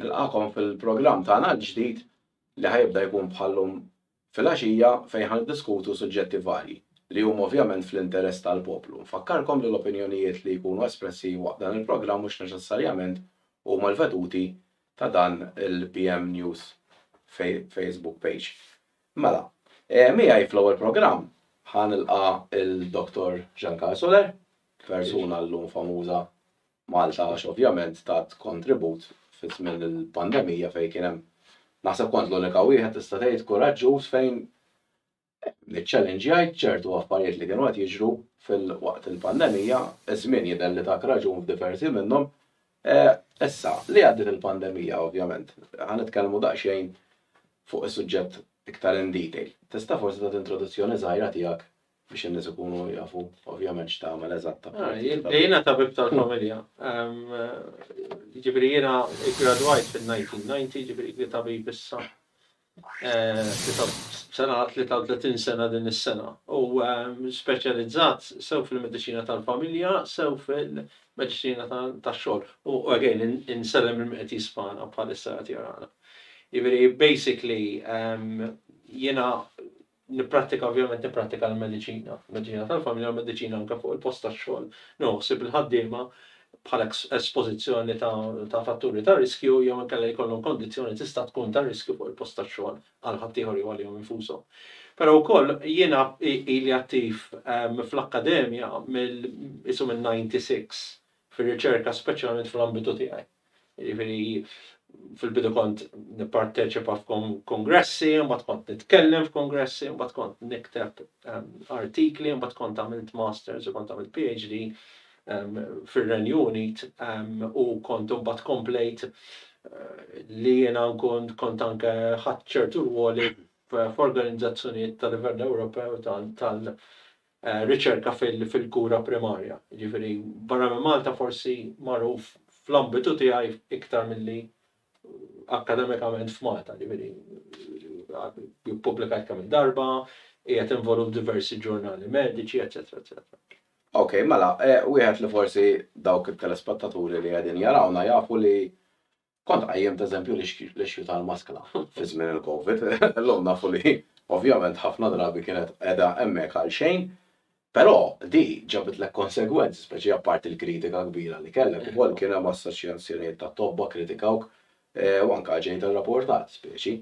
Nilqakom fil-programm tagħna l-ġdid li ħa jibda jkun bħal-lum filgħaxija fejn ħa niddiskutu suġġetti varji li huma ovvjament fl-interess tal-poplu. Nfakkarkom li l-opinjonijiet li jkunu espressi waqt dan il-programm mhux neċessarjament huma l-veduti ta' dan il-PM News Facebook page. Mela, miegħi fl-ewwel programm ħa nilqa' il-Dottor Jean Karl Suler, persuna llum famuża Malta għax ovvjament tat kontribut fi żmien il-pandemija fejn kien hemm naħseb kont l-unika wieħed tista' tgħid kuraġġuż fejn niċċelenġjajt ċertu affarijiet li kienu qed jiġru fil-waqt il-pandemija, iż-żmien jidher li tak raġun f'diversi minnhom. Issa, li għaddiet il-pandemija ovvjament, ħa nitkellmu daqsxejn fuq is-suġġett iktar in detail. Tista' forsi tagħti introduzzjoni żgħira tiegħek biex in-nies ikunu jafu ovvjament x'tagħmel eżatta. Ah, Jiena tabib tal-familja. Ġifieri jiena gradwajt fil-1990, ġifieri li tabib issa. Eh, sena 33 sena din is-sena. U speċjalizzat sew fil-mediċina tal-familja, sew fil-mediċina tax-xogħol. U għagħin insellem il-meqet jispana bħal-issa għati għana. Ġifieri basically jiena Nipprattika ovvjament nipprattika l-mediċina, mediċina tal-familja u mediċina anke fuq il-post tax-xogħol. Nieħu ħsieb il-ħaddiema bħala espożizzjoni ta' fatturi ta' riskju jew inkella li jkollhom kondizzjoni li tista' tkun ta' riskju fuq il-post tax-xogħol għal ħaddieħor jew għalihom infushom. Però wkoll jiena ili attiv fl-akkademja mill qisu min-96 fir-riċerka speċjalment fl-ambitu tiegħi. Jiġifieri fil-bidu kont nipparteċipa f'kongressi, imbagħad kont nitkellem f'kongressi, imbagħad kont nikteb artikli, imbagħad kont għamilt masters u kont għamilt PhD fir-Renju Unit u kont imbagħad komplejt li jiena nkun kont anke ħadt ċertu rwoli f'organizzazzjonijiet ta' livell Ewropew riċerka fil-kura primarja. Jiġifieri barra minn Malta forsi magħruf fl-ambitu tiegħi iktar milli akkademikament f'Malta. Jiġifieri ppubblikajt kemm-il darba, qiegħed involut f'diversi ġurnali mediċi, eċċetera, eċċetera. Ok, mela, wieħed li forsi dawk it-telespettaturi li qegħdin jarawna jafu li Kont qajjimt eżempju l-ixju tal-maskla fi żmien il-Covid. Illum nafu li ovvjament ħafna drabi kienet qiegħda hemmhekk għalxejn, però di ġabitlek konsegwenzi, speċi apparti l-kritika kbira li kellek ukoll kien hemm assoċjazzjonijiet tat-tobba kkritikawk u anke ġejt irraportat, speċi.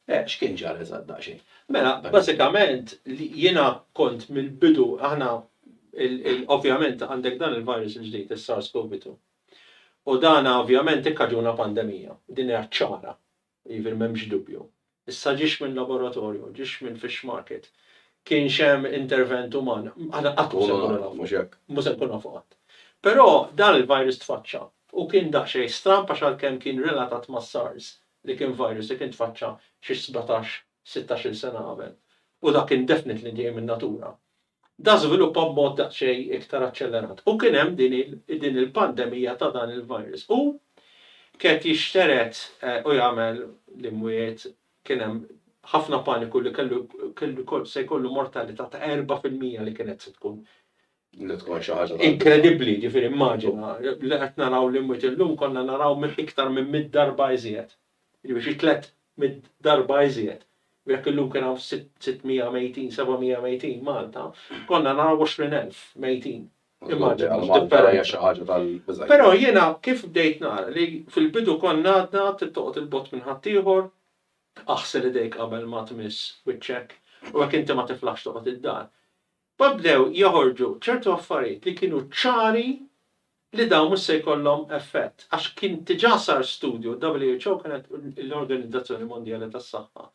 Eh, x'kien ġara eżatt daqsxejn? Mela, bażikament jiena kont mill-bidu, aħna ovvjament għandek dan il-virus il-ġdid, is-SARS-CoV-2, U dan ovvjament ikkaġuna pandemija. Din hija ċara. Jiġifieri m'hemmx dubju. Issa ġiex minn laboratorju, ġiex minn fish market, kienx hemm intervent uman, aħna qatt mhu se nkunu nafu. Mhux hekk. Mhu se nkunu nafu qatt. Però dan il-virus tfaċċa u kien daqsxejn stramb għax għalkemm kien relatat mas-SARS li kien virus li kien tfaċċa xi sbatax, sittax-il sena qabel u dak kien definitely ġej min-natura, Dan żviluppa b'mod daqsxejn iktar aċċellerat u kien hemm din il-pandemija ta' dan il-virus u qed jixtered u jagħmel l-imwiet, kien hemm ħafna paniku li kellu kellu se jkollu mortalità ta' erba' fil-mija li kienet se tkun li tkun xi ħaġa inkredibbli, jiġifieri immaġina li qed naraw l-imwiet illum konna naraw iktar minn mitt darba iżjed. jiġifieri xi tliet mitt darba iżjed, u jekk illum kien hawn sitt mija mejtin, seba' mija mejtin f'Malta, konna naraw għoxrin elf mejtin. Immaġina x'differenza. Però jiena kif bdejt nara li fil-bidu konna għadna trid toqgħod 'il bogħod minn ħaddieħor, aħsel idejk qabel ma tmiss wiċċek, u jekk inti ma tiflaħx toqgħod id-dar. Ma bdew joħorġu ċertu affarijiet li kienu ċari li dawn mhux se jkollhom effett, għax kien diġà sar studju, il-WHO kienet, l-Organizzazzjoni Mondjali tas-Saħħa,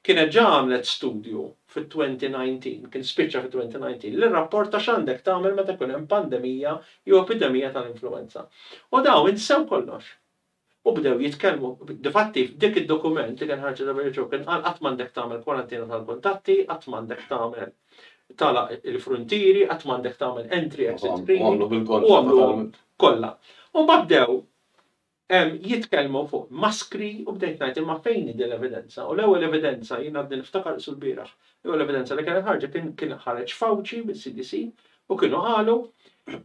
kienet ġa għamlet studju fit-2019, kien spiċċa fit-2019, li rrapporta x'għandek tagħmel meta jkun hemm pandemija jew epidemija tal-influwenza. U dawn insew kollox. U bdew jitkellmu, difatti f'dik id-dokument li kien ħareġ il-WHO kien qal qatt m'għandek tagħmel kwarantina tal-kuntatti, qatt m'għandek tagħmel tagħlaq il-fruntieri, qatt m'għandek tagħmel entry, exit screening. U għamlu bil-kontra. U għamluhom kollha. U mbagħad bdew jitkellmu fuq maskri u bdejt ngħid imma fejn hi din l-evidenza? U l-ewwel evidenza jiena għadni niftakar qisu l-bieraħ, l-ewwel evidenza li kienet ħarġet kien ħareġ Fauci mis-CDC U kienu qalu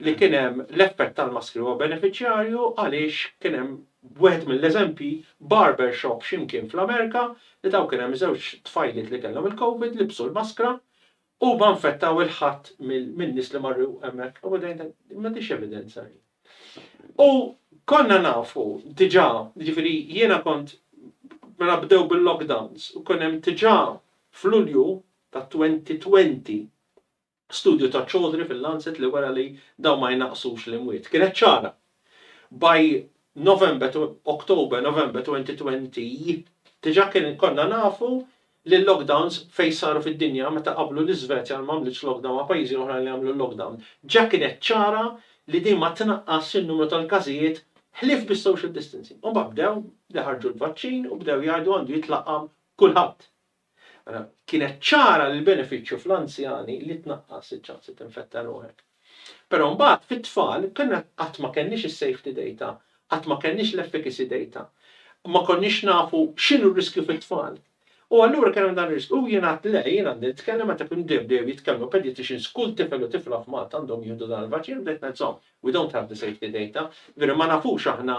li kien hemm l-effett tal-maskri huwa benefiċjarju għaliex kien hemm wieħed mill-eżempji barber shop xi mkien fl-Amerika li daw kien hemm żewġ tfajliet li kellhom il-Covid libsu l-maskra u ma nfettaw il-ħadd min-nies li marru hemmhekk. M'għandix evidenza hi. U konna nafu diġà, jiġifieri jiena kont mela bdew bil-lockdowns u kien hemm diġà f'Lulju ta' 2020 Studju ta' Chaudhry fil-Lancet li wera li dawn ma jnaqqsux l-imwiet kienet ċara. By November to October, November 2020 diġà kien konna nafu li l-lockdowns fejn saru fid-dinja meta qablu l-Iżvezja li m'għamlitx lockdown ma' pajjiżi oħrajn li għamlu l-lockdown ġa kienet ċara li din ma tnaqqasx in-numru tal-każijiet ħlief bis-social distancing. U mbagħad bdew li ħarġu l-vaċċin u bdew jgħidu għandu jitlaqam kulħadd. Mela, kienet ċara li l-benefiċċju fl-anzjani li tnaqqas iċ-ċans li tinfetta ruħek. Però mbagħad fit-tfal kellna qatt ma kellniex is-safety data, qatt ma kellniex l-efficacy data, ma konniex nafu x'inhu r-riskju fit-tfal. U allura kien hemm dan ir-riskju. U jien għidt le, jien għandi nitkellem meta kienu dejjem bdew jitkellmu pediatricians kull tifel u tifla f'Malta għandhom jieħdu dan il-vaċin u bdejt ngħid żomm, we don't have the safety data, jiġifieri ma nafux aħna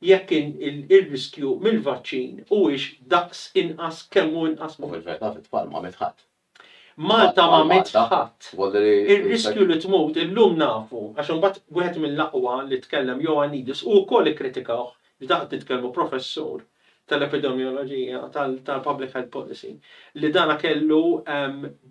jekk ir-riskju mill-vaċċin huwiex daqs inqas kemm hu inqas minn. U fil-verità fit-tfal m'għamiet ħadd. Malta m'għamiet ħadd. Ir-riskju li tmut illum nafu, għax imbagħad wieħed mill-aqwa li tkellem Ioannidis u wkoll ikkritikawh, biex daqt nitkellmu professur tal-epidemjoloġija tal-public health policy, li dan kellu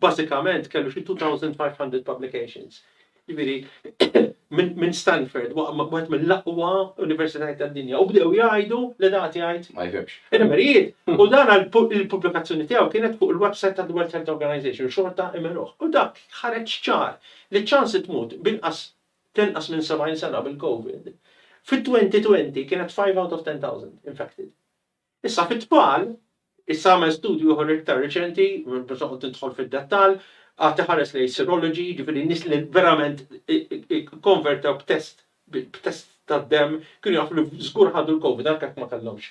bażikament kellu xi 2,500 publications. jiġifieri minn Stanford, waħda mill-aqwa universitajiet tad-dinja, u bdew jgħidu li dan jgħid. Ma jifhimx. Il-numerijiet, u dan il-pubblikazzjoni tiegħu kienet fuq il-website tal-World Health Organization, xorta imenuh. U dak ħareġ ċar li ċ-ċans li tmut b'inqas b'inqas minn 70 sena bil-COVID, fit-2020 kienet five out of 10,000 infected. Issa fit-tfal, issa għamel studju ieħor iktar riċenti, mhux se noqgħod nidħol fid-dettall, qagħad iħares lejn serology, jiġifieri n-nies li verament ikkonvertew b'test b'test tad-demm kienu jafu li żgur ħadu l-Covid anke jekk ma kellhomx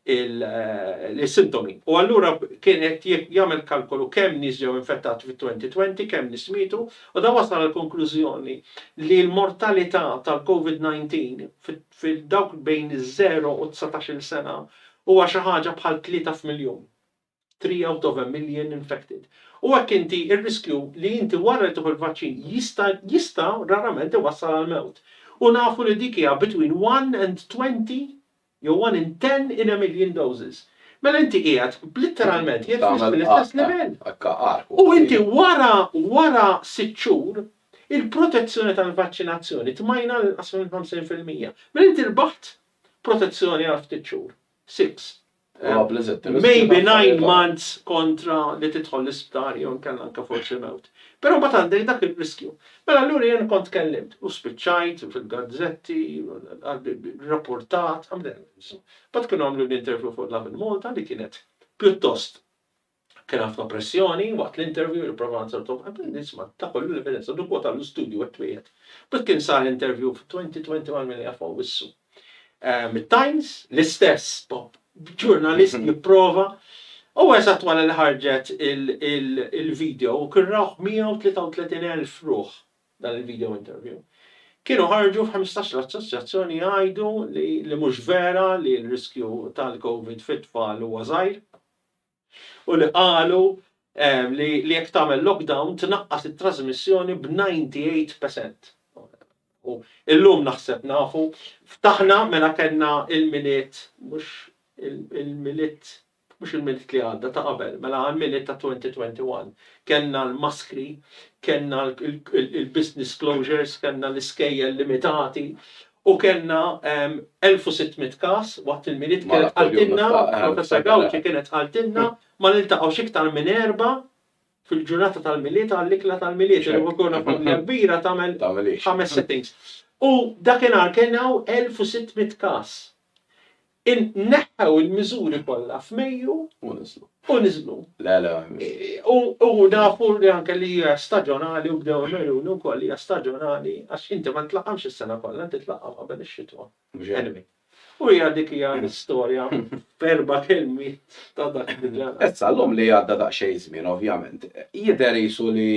il-sintomi. U allura kien qed jagħmel kalkolu kemm nies ġew infettati fit-2020, kemm nies mietu, u dan wassal għall-konklużjoni li l-mortalità tal-Covid 19 fit fi dawk bejn iż-żero u dsatax-il sena huwa xi ħaġa bħal tlieta f'miljun, three out of a million infected, u hekk inti r-riskju li inti wara li tieħu l-vaċċin jista' jista' rarament iwassal għall-mewt. U nafu li dik hija between one and twenty jew one in ten in a million doses. Mela inti qiegħed litteralment qiegħed tmiss mill-istess livell. U inti wara wara sitt xhur Il-protezzjoni tal-vaċċinazzjoni tmajn għal inqas minn 50 fil-mija. Mela inti rbaħt protezzjoni għal ftit xhur. Six. Maybe nine months kontra li tidħol l-isptar jew inkella anke forsi mewt. Però mbagħad għandek dak ir-riskju. Mela allura jien kont tkellimt u spiċċajt fil-gazzetti, rapportat, għamilt. Mbagħad kienu għamlu l-interview fuq Lovin Malta li kienet pjuttost Kien ħafna pressjoni waqt l-interview li pprova Nazzar Tobħa biex jisma' ta' kollu li kien jista' dukwa ta' l-istudju hekk twiegħed. B'hekk kien sar interview fit-2020 mal-min li jaf Awwissu. Mit-Times, l-istess pop ġurnalist jipprova u eżatt wara li ħarġet il-video u kien rawh 133,000 ruħ dan il-video interview. Kienu ħarġu f'ħmistax-il assoċjazzjoni jgħidu li mhux vera li l-riskju tal-Covid fit-tfal huwa żgħir. u li qalu li jekk tagħmel lockdown tnaqqas it-trażmissjoni b' 98 percent. U illum naħseb nafu ftaħna mela kellna il-Milied mhux il-Milied mhux il-Milied li għadda ta' qabel, mela l-Milied ta' 2021 kellna l-maskri, kellna l-business closures, kellna l-iskejjel limitati U kellna 1,600 każ waqt il-Milied kienet qaltilna, Professor Gauci kienet qaltilna, ma niltaqgħux iktar minn erbgħa fil-ġurnata tal-Milied għall-ikla tal-Milied, li jkollna familja kbira tagħmel ħames sittings. U dakinhar kellna 1,600 każ. Inneħħew il-miżuri kollha f'Mejju. U niżlu. U niżlu. Le, le. U nafu li anke li hija staġonali u bdew imerruni wkoll li hija staġonali għax inti ma titlaqamx is-sena kollha, inti tlaqqam qabel ix-xitwa. Anyway. U hija dik hija l-istorja f'erba' kelmiet ta' dak li ġara. Issa llum li għadda daqsxejn żmien ovvjament, jidher qisu li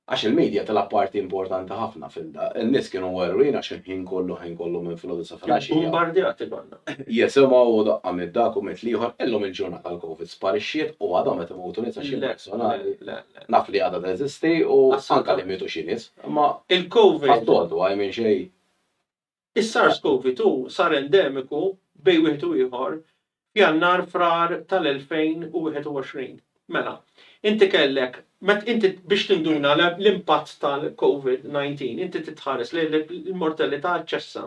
Għax il-media tilgħab parti importanti ħafna fil-da. In-nies kienu mwerwrin għax il-ħin kollu, ħin kollu minn filgħodu sa filgħaxija. Bbumbardjati konna. Jisimgħu daqqa minn dak u mit l-ieħor, illum il-ġurnata l-Covid sparixxiet u għadhom qed imutu nies għax jien personali naf li għadha teżisti u anke li mietu xi nies. Imma għas-soltu, għajr minn xejn, Is-SARS-CoV-2 sar endemiku bejn wieħed u ieħor f'Jannar-Frar tal-2021. Mela, inti kellek, met, inti biex tinduna l-impatt tal-Covid 19, inti trid tħares lejn il-mortalità eċċessa,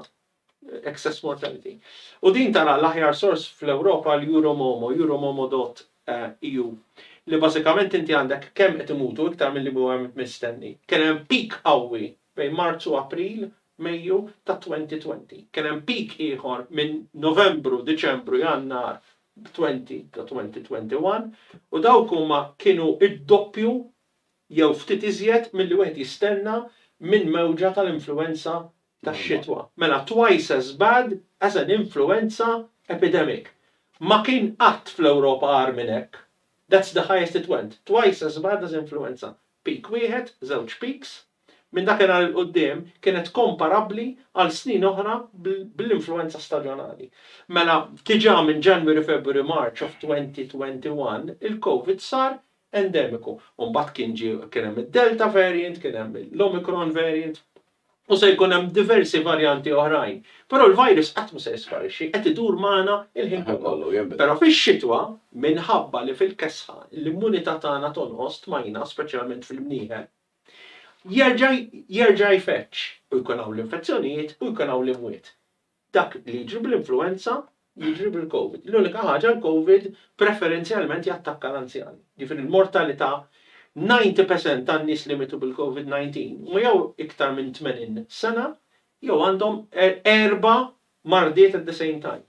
excess mortality. U din tara l-aħjar sors fl-Ewropa l-Euromomo, euromomo.eu, li bażikament inti għandek kemm qed imutu iktar milli huwa mistenni. Kien hemm peak qawwi bejn Marzu-April Mejju tat-2020. Kien hemm peak ieħor minn Novembru, Diċembru, Jannar 20 ta' 2021 u dawk huma kienu d-doppju jew ftit iżjed milli wieħed jistenna minn mewġa tal-influwenza tax-xitwa. Mela twice as bad as an influenza epidemic. Ma kien qatt fl-Ewropa agħar minn hekk. That's the highest it went. Twice as bad as influenza. Peak wieħed, żewġ peaks. Minn dakinhar 'il quddiem kienet komparabbli għal snin oħra bl-influwenza staġonali. Mela diġà minn January, February, March of 2021 il-Covid sar endemiku. U mbagħad kien ġie kien hemm id-Delta variant, kien hemm l-Omicron variant u se jkun hemm diversi varjanti oħrajn. Però l-virus qatt mhu se jisparixxi, qed idur magħna l-ħin kollu. Però fix-xitwa, minħabba li fil-kesħa l-immunità tagħna tonqos tmajna, speċjalment fil-mnieħer, Jerġa' jerġa' jfeġġ u jkun hawn l-infezzjonijiet u jkun hawn l-imwiet. Dak li jiġri bl-influwenza jiġri bil-Covid. L-unika ħaġa l-Covid preferenzjalment jattakka l-anzjani. Jiġifieri l-mortalità 90 percent tan-nies li mietu bil-Covid 19 huma jew iktar minn 80 sena jew għandhom erba' mardiet at the same time.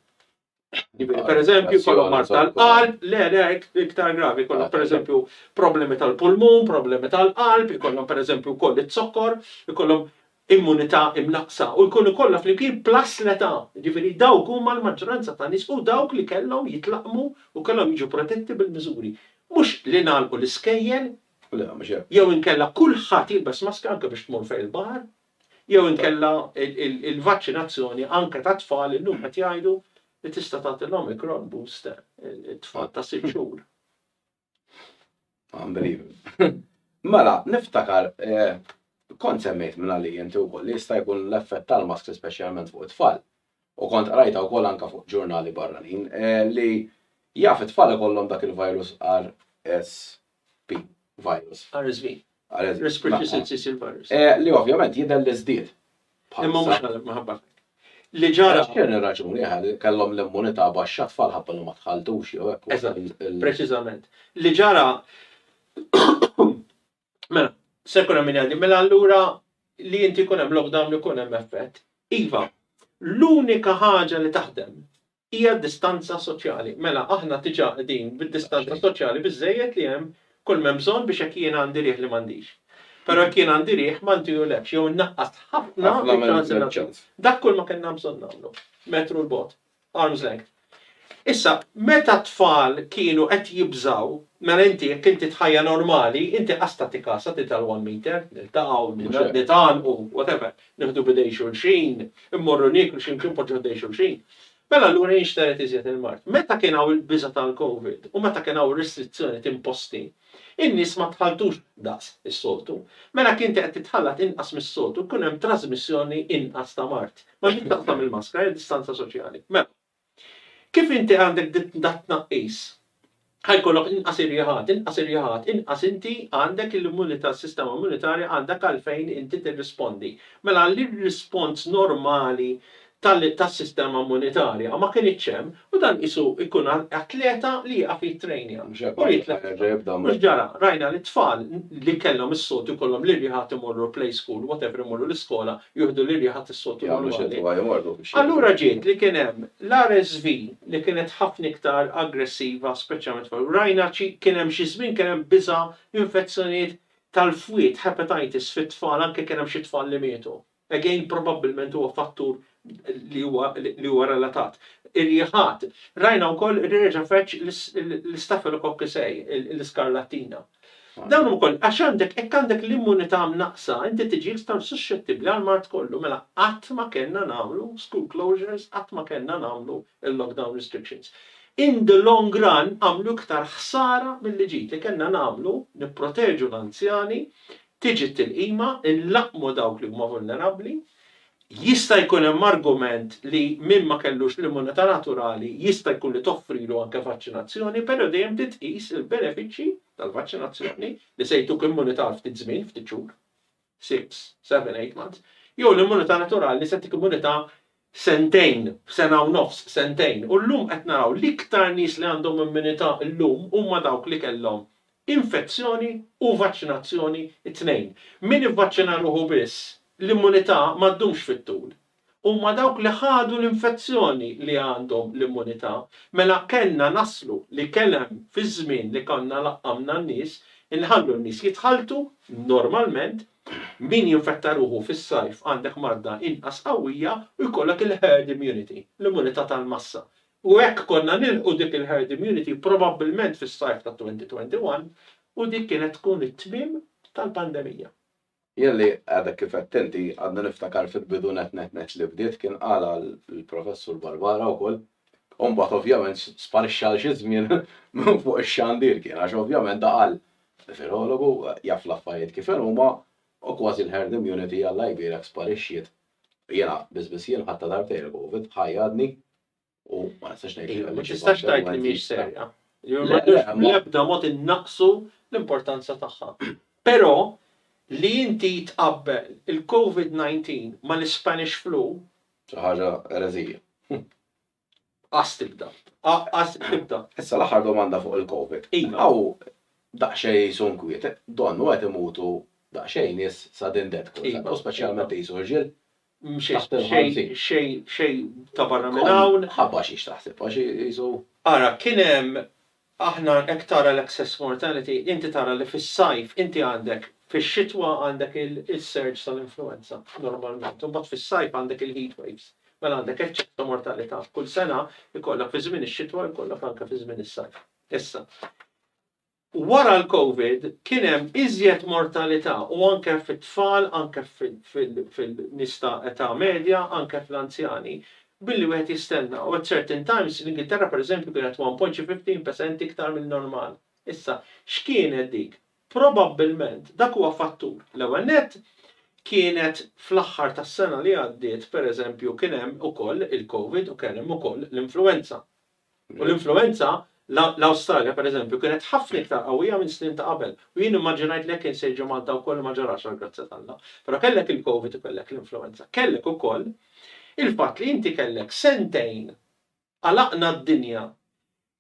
Jiġifieri, pereżempju, jkollhom mart tal-qalb, le, le, iktar gravi, jkollhom pereżempju problemi tal-pulmun, problemi tal-qalb, jkollhom pereżempju wkoll iz-zokkor, jkollhom immunità imnaqqsa u jkunu kollha flimkien plus l-età. Jiġifieri dawk huma l-maġġoranza ta' nies u dawk li kellhom jitlaqqmu u kellhom jiġu protetti bil-miżuri. Mhux li ngħalqu l-iskejjel jew inkella kulħadd jilbes maskra anke biex tmur fejn il-baħar. Jew inkella il-vaċċinazzjoni anke tat-tfal, illum qed jgħidu li tista' tagħti l-Omicron booster it-tfal ta' sitt xhur. Unbelievable. Mela, niftakar kont semmejt minn għalija inti wkoll li jista' jkun l-effett tal-masks speċjalment fuq it-tfal. u kont qrajtha wkoll anke fuq ġurnali barranin, li jaf it-tfal ikollhom dak il-virus RSV virus. RSV. Respiratory Syncytial Virus. Li ovvjament jidher li żdied. Imma mhux minħabba f'hekk. Li ġara. X'kien ir-raġuni li kellhom l-immunità baxxa t-tfal ħabba li ma tħalltux jew hekk? Eżatt, preċiżament. Li ġara Mela, se jkun hemm min jgħid, mela allura li inti jkun hemm lockdown ikun hemm effett. Iva, l-unika ħaġa li taħdem hija d-distanza soċjali. Mela aħna diġà qegħdin bid-distanza soċjali biżżejjed li hemm kull m'hemm bżonn biex jekk jiena għandi riħ li m'għandix. Però jekk jien għandi riħ ma ntiulekx jew innaqqas ħafna ċ-ċans. Dak kull ma kellna bżonn nagħmlu. Metru 'l bogħod. Arm's length. Issa, meta t-tfal kienu qed jibżgħu, mela inti jekk inti t'ħajja normali, inti qas tagħti każ għad id tal-one meter, niltaqgħu, nitgħannqu, whatever, nieħdu b'idej xulxin, immorru nieklu xi mkien npoġġu ħdejn xulxin. Mela allura jinxtered iżjed il-mard. Meta kien hawn il-biża' tal-Covid u meta kien hawn restrizzjoniet imposti, in-nies ma tħalltux daqs is-soltu. Mela jekk inti qed titħallat inqas mis-soltu jkun hemm trasmissjoni inqas ta' mard. Ma ġiet taqta' mill-maskra, hija distanza soċjali. Mela, kif inti għandek dat-tnaqqis, ħa jkollok inqas irjieħat, inqas irjieħat, inqas inti għandek l-immunità, s-sistema immunitarja għandek għalfejn inti tirrispondi. Mela l-irrispons normali tas-sistema immunitarja ma kinitx hemm U dan qisu jkun atleta li jieqaf jittrejnja u jitlef il-ġebla. U x'ġara? Rajna li t-tfal li kellhom is-soltu jkollhom l-irjieħat imorru l-play school, whatever, imorru l-iskola, jieħdu l-irjieħat is-soltu normali. Allura ġiet li kien hemm l-RSV li kienet ħafna iktar aggressiva speċjalment fuq il-. Rajna kien hemm xi żmien kien hemm biża' infezzjonijiet tal-fwied, hepatitis, fit-tfal anke kien hemm xi tfal li mietu. Again, probabbilment huwa fattur li huwa li huwa relatat. Ir-riħat. Rajna wkoll li reġa' feġġ l-Staphylococcus A, l-iskarlattina. Dawn huma wkoll għax għandek hekk għandek l-immunità mnaqqsa, inti tiġi iktar suxxettibbli għall-mard kollu. Mela qatt ma kellna nagħmlu school closures, qatt ma kellna nagħmlu l-lockdown restrictions. In the long run għamlu iktar ħsara milli ġid. Li kellna nagħmlu, nipproteġu l-anzjani, tiġi t-tilqima, inlaqqmu dawk li huma vulnerabbli, jista' jkun hemm argument li min ma kellux l-immunità naturali jista' jkun li toffrilu anke vaċċinazzjoni, però dejjem trid tqis il-benefiċċji tal-vaċċinazzjoni li se jtuk immunità għal ftit żmien, ftit xhur, six, seven, eight months, jew l-immunità naturali li se ttik immunità sentejn, sena u nofs, sentejn, u llum qed naraw l-iktar nies li għandhom immunità llum huma dawk li kellhom infezzjoni u vaċċinazzjoni t-tnejn. Min ivvaċċina ruħu biss, l-immunità ma ddumx fit-tul. Huma dawk li ħadu l-infezzjoni li għandhom l-immunità. Mela kellna naslu li kelem fiż-żmien li konna laqqamna n-nies, inħallu n-nies jitħalltu normalment, Min jinfetta ruħu fis-sajf għandek marda inqas qawwija u jkollok il-herd immunity, l-immunità tal-massa. U hekk konna nilħqu dik il-herd immunity probabbilment fis-sajf tat-2021 u dik kienet tkun it-tmiem tal-pandemija. Jien li, għadek kif għedt inti, għadni niftakar fil-bidu net net net li bdiet kien qalha l-Professur Barbara wkoll, U mbagħad ovvjament sparixxa għal xi żmien minn fuq ix-xandir kien għax ovvjament daħal virologu jaf l-affarijiet kif inhuma u kważi l-herd immunity Alla jbierek sparixxiet. Jiena biss biss jien ħadtha darbtejn il-Covid f'ħajja għadni u ma nistax ngħid li kelli xi konsegwenzi. Ma tistax tgħid li mhix serja. Bl-ebda mod innaqqsu l-importanza tagħha. Però li inti tqabbel il-Covid 19 mal-Ispanish flu Xi ħaġa ereżija. Qas tibda. Qas tibda. Issa l-aħħar domanda fuq il-Covid. Iva. Aw daqsxejn qisu nkwiet, donnu qed imutu daqsxejn nies sudden death kull sena, u speċjalment qisu rġiel. Xejn ta' barra minn hawn. Ħabba xiex taħsibha, qisu. Ara, kien hemm Aħna hekk tara l-excess mortality, inti tara li fis-sajf inti għandek, fix-xitwa għandek il-surge tal-influwenza normalment, u mbagħad fis-sajf għandek il-heat waves. Mela għandek eċċess ta' mortalità f'kull sena, ikollok fi żmien ix-xitwa u jkollok anke fi żmien is-sajf. Issa, wara l-Covid kien hemm iżjed mortalità u anke fit-tfal, anke fil-nies ta' età medja, anke fl-anzjani, Billi wieħed jistenna, u at certain times, l-Ingilterra per eżempju kienet one point xi fifteen pesent iktar mill-normal. Issa, x'kienet dik? Probabbilment, dak huwa fattur. L-ewwel nett, kienet fl-aħħar tas-sena li għaddiet, per eżempju, kien hemm ukoll il-Covid u kien hemm ukoll l-influwenza. U l-influwenza l-Awstralja, pereżempju, kienet ħafna iktar qawwija minn snin ta' qabel, u jien immaġinajt li hekk kien se jiġi Malta wkoll imma ġarax għall-grazzja t'Alla. Però kellek il-Covid u kellek l-influwenza. Kellek ukoll il-fatt li inti kellek sentejn għalaqna d-dinja,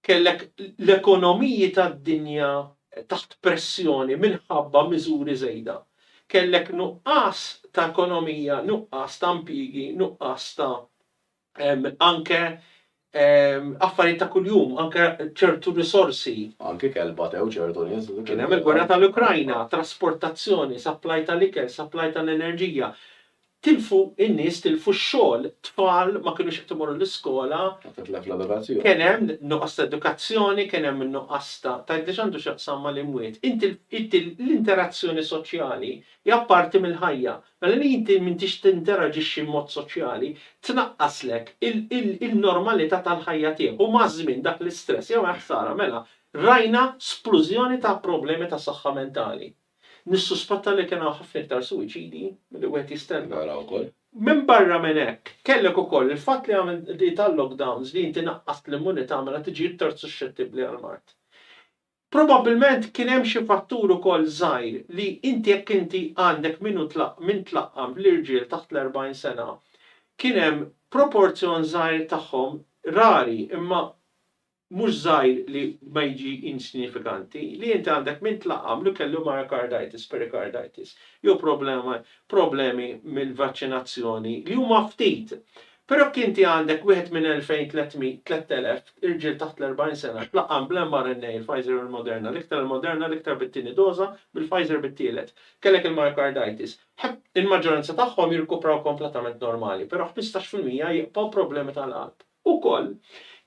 kellek l-ekonomiji tad-dinja taħt pressjoni minħabba miżuri żejda, kellek nuqqas ta' ekonomija, nuqqas ta' impjiegi, nuqqas ta' anke affarijiet ta' kuljum, anke ċertu risorsi. Anke kelb bagħtew ċertu nies. Kien hemm il-gwerra tal-Ukrajna, trasportazzjoni, supply tal-ikel, supply tal-enerġija. Tilfu n-nies, tilfu x-xogħol, tfal ma kinux qed imorru l-iskola. Titlef l-edukazzjoni. Kien hemm nuqqas ta' edukazzjoni, kien hemm nuqqas ta' dak li għandu x'jaqsam mal-imwiet. Inti l-interazzjoni soċjali hija parti mill-ħajja. Mela li inti m'intix tinteraġixxi b'mod soċjali, tnaqqaslek il-normalità tal-ħajja tiegħek u maż-żmien dak l-istress, jew għal ħsara, mela, rajna splużjoni ta' problemi ta' saħħa mentali. Nissuspatta li kien hawn ħafna iktar suwiċidji milli wieħed jistenna. Nara wkoll. Minbarra minn hekk, kellek ukoll il-fatt li għamilt li tal-lockdowns li inti naqqast l-immunità mela tiġi iktar suxxettibbli għall-mard. Probabbilment kien hemm xi fattur ukoll żgħir li inti jekk inti għandek min hu tlaqq min tlaqqam bl-irġiel taħt l-40 sena kien hemm proporzjon żgħir tagħhom rari imma mhux żgħir li ma jiġi insignifikanti li inti għandek min tlaqqam li kellu myocarditis, pericarditis jew problema problemi mill-vaċċinazzjoni li huma ftit Però jekk inti għandek wieħed minn 2,300, 3,000, irġiel taħt l-40 sena tlaqqam bl-mRNA, il-Pfizer u l-Moderna, l-iktar il-Moderna, l-iktar bit-tieni doża, bil-Pfizer bit-tielet. Kellek il-myocarditis. Ħepp, il-maġġoranza tagħhom jirkupraw kompletament normali, però ħmistax fil-mija jibqgħu b'problemi tal-qalb. Ukoll,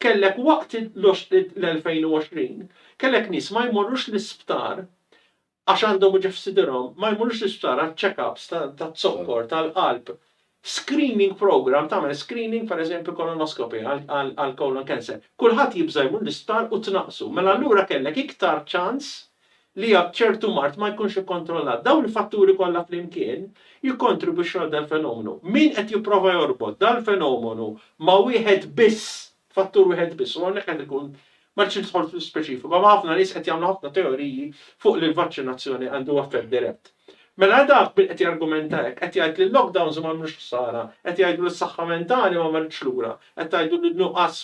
kellek waqt l-2020, kellek nies ma jmorrux l-isptar għax għandhom iġi f'sidrhom, ma jmurux l-isptar għaċ-check-ups taz-zokkor, tal-qalb. Screening programme, tagħmel screening, pereżempju colonoscopy, għall-colon cancer. Kulħadd jibża' jmur l-isptar u tnaqqsu. Mela allura kellek iktar ċans li ċertu mard ma jkunx ikkontrollat. Dawn il-fatturi kollha flimkien jikkontribwixxu għal dal-fenomenu. Min qed jipprova jorbot dal-fenomenu ma' wieħed biss, fattur wieħed biss, u hawnhekk qed ikun Ma rridx nidħol fl-ispeċifiku, imma ħafna nies qed jagħmlu ħafna teoriji fuq li l-vaċċinazzjoni għandu effett dirett. Mela dak min qed jargumenta hekk qed jgħid li l-lockdowns ma għamlux ħsara, qed jgħidu li s-saħħa mentali ma marritx lura, qed tgħidu li n-nuqqas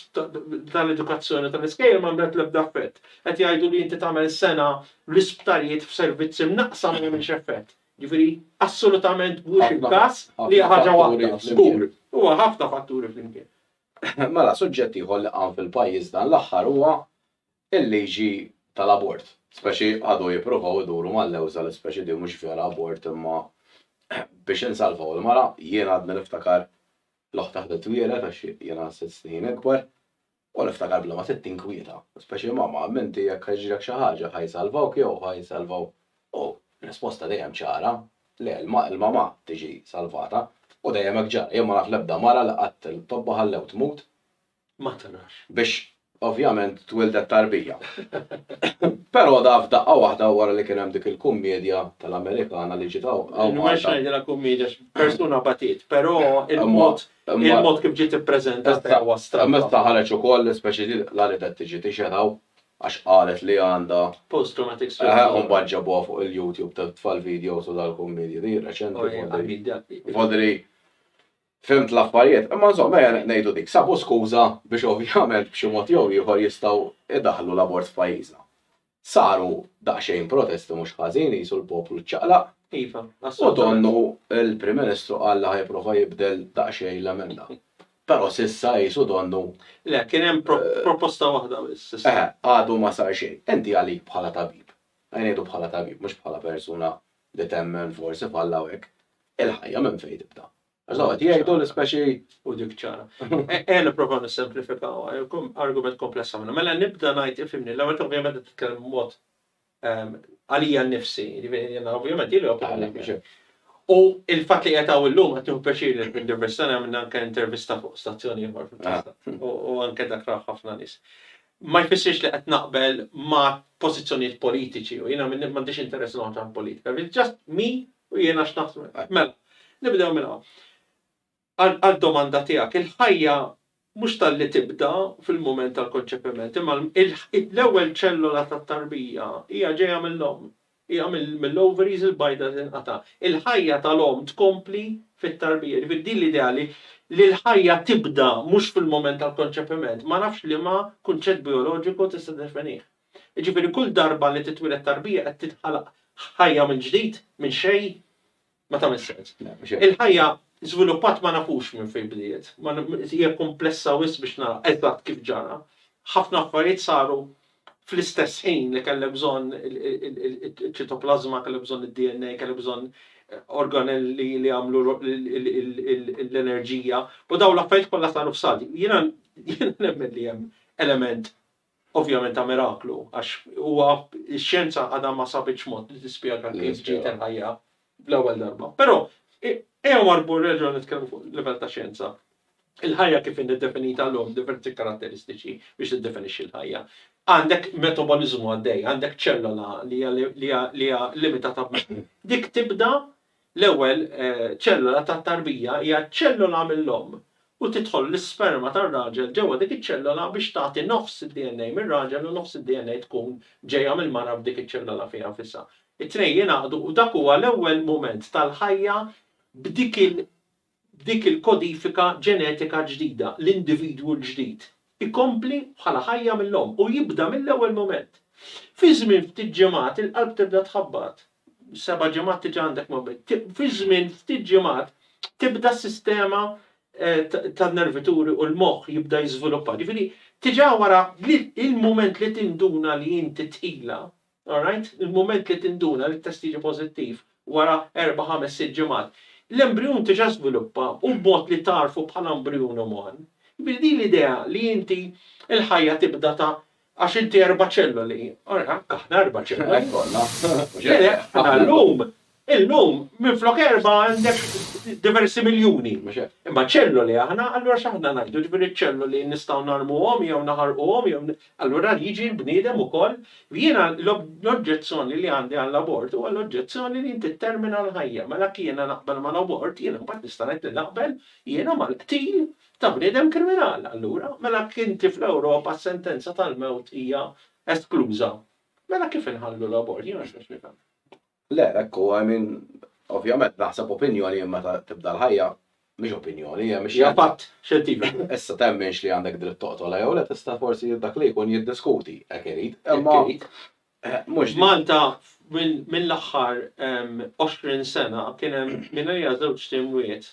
tal-edukazzjoni tal-iskejjel ma għamlet l-ebda effett, qed jgħidu li inti tagħmel sena l-isptarijiet f'servizzi mnaqqsa ma jagħmilx effett. Jiġifieri, assolutament mhux il-każ li hija ħaġa waħda, żgur, huwa ħafna fatturi flimkien. Mela, suġġett ieħor li qam fil-pajjiż dan l-aħħar huwa l-liġi tal-abort. Speċi għadu jippruvaw iduru mal-lewża li speċi din mhux vera abort imma biex insalvaw il-mara. Jien għadni niftakar l-oħta ħdet twieled għax jiena sitt snin ikbar u niftakar bla ma titt inkwieta. Speċi mama, minn inti jekk jiġrilek xi ħaġa ħa jsalvawk jew ħa jsalvaw U risposta dejjem ċara, Le, l-mamà tiġi salvata. U dejjem hekk ġara. Jien ma naf l-ebda mara li qatt il-tobba ħallew tmut. Ma tarax. Biex, ovvjament, twildet tarbija. Però da f'daqqa waħda wara li kien hemm dik il-kummiedja tal-Amerikana li ġiet hawn Malta. Ma rridx ngħidilha kummiedja għax persuna batiet, però il-mod il-mod kif ġiet ippreżentata huwa stramba. Meta ħareġ ukoll speċi li la ridet tiġi tixhed hawn għax qalet li għandha Post traumatic stress disorder. Eħe, u mbagħad ġabuha fuq il-YouTube ta' tfal videos u dal-kummiedja di reċenti. Fodri fimt l-affarijiet, imma insomma ejja ngħidu dik, sabu skuża biex ovvjament b'xi mod jew ieħor jistgħu idaħħlu l-abort f'pajjiżna. Saru daqsxejn protesti mhux ħażin qisu l-poplu ċċaqlaq. Iva, assolutament. U donnu l-Prim Ministru qal li ħa jipprova jibdel daqsxejn l-emenda. Però s'issa qisu donnu. Le, kien hemm proposta waħda biss s'issa. Eħe, għadu ma sar xejn. Inti għalik bħala tabib, ejja ngħidu bħala tabib mhux bħala persuna li temmen forsi f'Alla u hekk, il-ħajja minn fejn tibda? Għax dawn qed jgħidu li speċi. U dik ċara. Ejja nipprovaw nissemplifikawha, argument kompless ħafna. Mela nibda ngħid, ifhimni, l-ewwel nett ovvjament qed titkellem b'mod Għalija nnifsi, jiena ovvjament ilu appoġġa. U il-fatt li qiegħed hawn illum qed nieħu pjaċir li minn Diversitana għamilna anke intervista fuq stazzjon ieħor fil-posta. U anke dak rah ħafna nies. Ma jfissirx li qed naqbel ma' pożizzjonijiet politiċi u jiena m'għandix interess noqgħod nagħmel politika. Just min u jiena x'naħseb. Mela, nibdew minn hawn. Għad-domanda tiegħek, il-ħajja mhux talli tibda fil-mument tal-konċepiment, imma l-ewwel ċellola tat-tarbija hija ġejja mill-omm, hija mill-ovaries il-bajd li tinqata'. Il-ħajja tal-omm tkompli fit-tarbija. Jiġifieri din l-idea li l-ħajja tibda mhux fil-mument tal-konċepiment, ma nafx liema kunċett bijoloġiku tista' tiddefinih. Jiġifieri kull darba li titwieled tarbija qed titħalaq ħajja mill-ġdid, minn xejn? Ma tagħmilx sens. Il-ħajja żviluppat ma nafux minn fejn bdiet, hija kumplessa wisq biex naraw eżatt kif ġara. Ħafna affarijiet saru fl-istess ħin li kellek bżonn iċ-ċitoplażma, kellek bżonn id-DNA, kellek bżonn organelli li jagħmlu l-enerġija, u dawn l-affarijiet kollha saru f'sagħti. Jiena nemmen li hemm element Ovvjament ta' miraklu, għax huwa x-xjenza għadha ma sabitx mod li tispjega kif ġiet il-ħajja l-ewwel darba. Però, ejjew marrbu nerġgħu nitkellmu fuq livell ta' xjenza. Il-ħajja kif inhi definita llum, diversi karatteristiċi biex tiddefinixxi l-ħajja. Għandek metaboliżmu għaddej, għandek ċellola li hija limitata b'mod. Dik tibda L-ewwel ċellola tat-tarbija hija ċellola mill-omm u tidħol l-isperma tar-raġel ġewwa dik iċ-ċellola biex tagħti nofs id-DNA mir-raġel u nofs id-DNA tkun ġejja mill-mara f'dik iċ-ċellola fiha nfisha. It-tnejn jingħaqdu u dak huwa l-ewwel mument tal-ħajja b'dik il b'dik il-kodifika ġenetika ġdida, l-individwu l-ġdid ikompli bħala ħajja mill-omm u jibda mill-ewwel mument. Fi żmien ftit ġimgħat il-qalb tibda tħabbat. Seba' ġimgħat diġà għandek mewt. Fi żmien ftit ġimgħat tibda s-sistema tan-nervituri u l-moħħ jibda jiżviluppa. Ġifieri diġà wara il-mument li tinduna li inti tqila, All right? Il-mument li tinduna li t-test jiġi pożittiv wara erba', ħames, sitt ġimgħat, l-embrijun diġà żviluppa u b'mod li tagħrfu bħala embrijun uman. Jiġifieri din l-idea li inti l-ħajja tibda ta' għax inti erba' ċelloli, anke aħna erba' ċelloli. Hekk konna. Le, le, aħna llum Illum, minflok erbgħa għandek diversi miljuni. Imma ċelloli aħna, allura x'aħna ngħidu? Jiġifieri ċ-ċelloli nistgħu narmuhom jew naħarquhom jew allura jiġi l-bniedem ukoll? Jiena l-oġġezzjoni li għandi għall-abort huwa l-oġġezzjoni li inti ttermina l-ħajja. Mela jekk jiena naqbel mal-abort, jiena mbagħad nista' ngħid li naqbel jiena mal-qtil ta' bniedem kriminal. Allura, mela jekk inti fl-Ewropa s-sentenza tal-mewt hija eskluża, mela kif inħallu l-abort? Jiena x'naf nifhem. Le, hekk hu, I mean, ovvjament naħseb opinjoni imma meta tibda l-ħajja mhix opinjoni, hija mixja. Hija fatt xjentifiku. Issa temminx li għandek dritt toqtolha jew le tista' forsi dak li jkun jiddiskuti hekk irid, imma mhux dik. F'Malta mill-aħħar 20 sena kien hemm mingħajrha żewġt imwiet,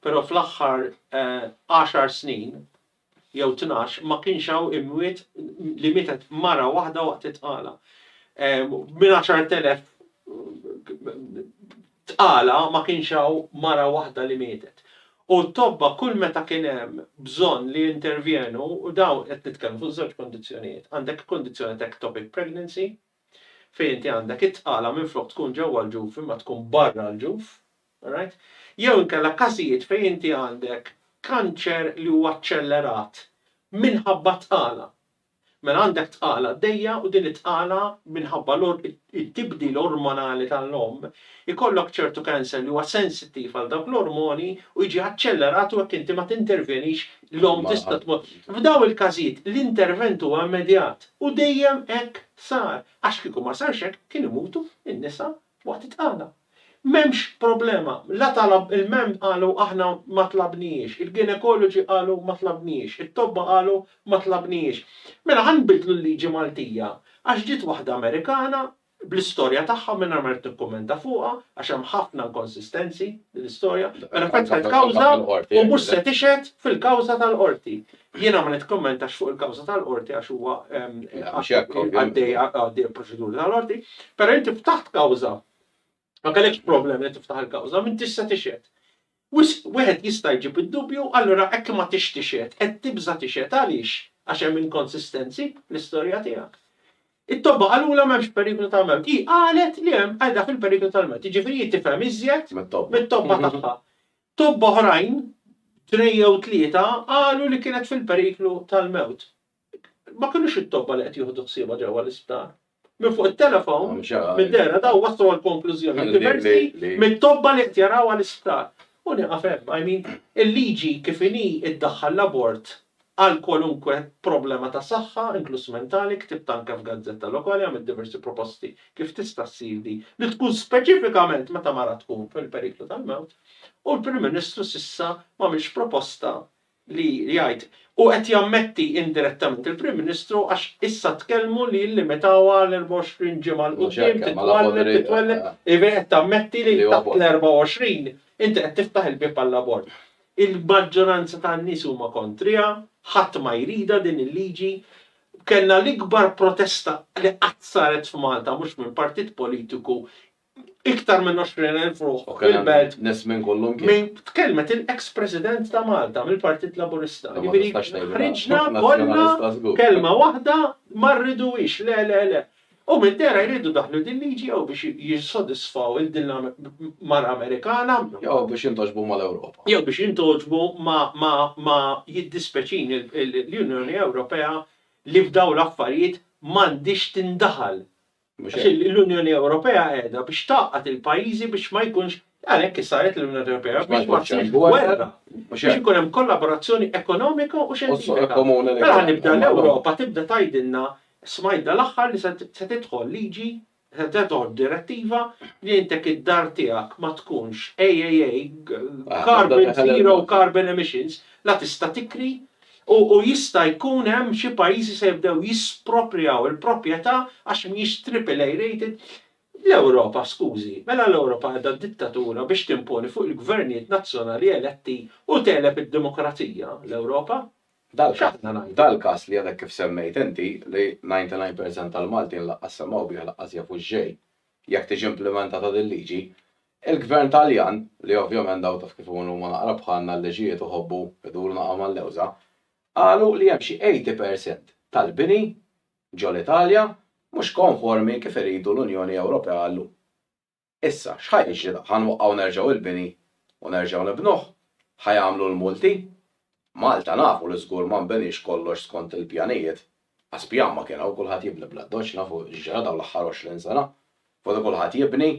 però fl-aħħar għaxar snin jew tnax, ma kienx hawn imwiet li mietet mara waħda waqt it-tqala. Minn għaxart elef tqala ma kienx hawn mara waħda li mietet. U t-tobba kull meta kien hemm bżonn li jintervjenu, u dawn qed nitkellmu fuq żewġ kundizzjonijiet, għandek kundizzjoni ta' ectopic pregnancy, fejn inti għandek it-tqala minflok tkun ġewwa l-ġuf imma tkun barra l-ġuf, alright, jew inkella każijiet fejn inti għandek kanċer li huwa aċċellerat minħabba t-tqala. Mela għandek tqala għaddejja u din it-tqala minħabba t-tibdil ormonali tal-omm ikollok ċertu cancer li huwa sensittiv għal dawk l-ormoni u jiġi aċċellerat u hekk inti ma tintervjenix L-omm tista' tmur. F'dawn il-każijiet l-intervent huwa immedjat u dejjem hekk sar għax kieku ma sarx hekk kien imutu n-nisa waqt it-tqala. M'hemmx problema, la talab il-MEM qalu aħna ma tlabnihiex, il-ginekoloġi qalu ma tlabnihiex, it-tobba qalu ma tlabnihiex. Mela ħa nbiddlu l-liġi Maltija għax ġiet waħda Amerikana bl-istorja tagħha mingħajr ma rrid nikkummenta fuqha għax hemm ħafna inkonsistenzi din l-istorja, mela fetħet kawża u mhux se tixhed fil-kawża tal-Qorti. Jiena ma nikkummentax fuq il-kawża tal-Qorti għax huwa għaddejja proċeduri tal-Qorti, però inti ftaħt kawża Ma kellekx problemi li tiftaħ il-kawża, m'intix se tixhed. Wisq wieħed jista' jġib id-dubju, allura hekk ma tix tixhed, qed tibża' tixhed għaliex? Għax hemm inkonsistenzi fl-istorja tiegħek. It-tobba qalulha m'hemmx periklu ta' mewt. Hi qalet li hemm qiegħda fil-periklu tal-mewt, jiġifieri hi tifhem iżjed mit-tobba tagħha. Tobba oħrajn, tnejn jew tlieta, qalu li kienet fil-periklu tal-mewt. Ma kinux it-tobba li qed jieħdu ħsiebha ġewwa l-isptar. Minn fuq it-telefown, mid-dehra dawn waslu għall-konklużjoni li diversi mit-tobba li qed jarawha l-isptar. U nieqaf hemm. I mean, il-liġi kif inhi ddaħħal l-abort għal kwalunkwe problema ta' saħħa, inkluż mentali, ktibt anke f'gazzetta lokali, għamilt diversi proposti kif tista' ssir di, li tkun speċifikament meta mara tkun fil-periklu tal-mewt, u l-Prim Ministru s'issa m'għamilx proposta li jgħid, u qed jammetti indirettament il-Prim Ministru għax issa tkellmu li jillimitawha għal 24 ġimgħa 'l quddiem, titwalled, titwelled, jiġifieri qed tammetti li taħt l-24 inti qed tiftaħ il-bieb għall-abort. Il-maġġoranza tan-nies huma kontriha, ħadd ma jridha din il-liġi, kellna l-ikbar protesta li qatt saret f'Malta mhux minn partit politiku iktar minn 20,000 ruħ fil-belt. Nes minn kollu mkien. Tkellmet il-ex President ta' Malta mill-Partit Laburista. Jiġifieri ħriġna kollha kelma waħda ma rriduhiex, le, le, le. U minn dera jridu daħlu din liġi jew biex jissodisfaw il din mara Amerikana. Jew biex jintoġbu mal-Ewropa. Jew biex jintoġbu ma jiddispeċini l-Unjoni Ewropea li f'dawn l-affarijiet m'għandhiex tindaħal. L-Unjoni Ewropea qiegħda biex tgħaqqad il-pajjiżi biex ma jkunx għalhekk saret l-Unjoni Ewropea biex ma ssirx gwerra. Biex ikun hemm kollaborazzjoni ekonomika u xjentifika. Mela nibda l-Ewropa tibda tgħidilna smajt dal-aħħar li se tidħol liġi, se tidħol direttiva li intek id-dar tiegħek ma tkunx AAA, carbon zero carbon emissions, la tista' tikri, U jista' jkun hemm xi pajjiżi se jibdew jisproprjaw il-proprjetà għax mhijiex triple A rated. L-Ewropa, skużi, mela l-Ewropa qiegħda dittatura biex timponi fuq il-gvernijiet nazzjonali eletti u tegħleb id-demokrazija, l-Ewropa? X'aħna ngħidu? Dal-każ li għadek kif semmejt inti, li 99 percent tal-Maltin laqqas semgħu bih laqqas jafu x'ġej, jekk tiġi implimentata dil-liġi, Il-Gvern Taljan, li ovvjament dawn taf kif huma huma naqra bħalna l-leġijiet iħobbu iduru naqra mal-lewża, qalu li hemm xi 80 percent tal-bini ġo l-Italja mhux konformi kif iridu l-Unjoni Ewropea llum. Issa, x'ħa jiġri da? Ħa nwaqqgħu nerġgħu l-bini u nerġgħu nibnuh? Ħa jagħmlu l-multi? Malta nafu li żgur ma nbinix kollox skont il-pjanijiet Għax pjan ma kien hawn, kulħadd jibni bl-addoċċ, nafu x'ġara dawn l-aħħar għoxrin sena. Fadu kulħadd jibni,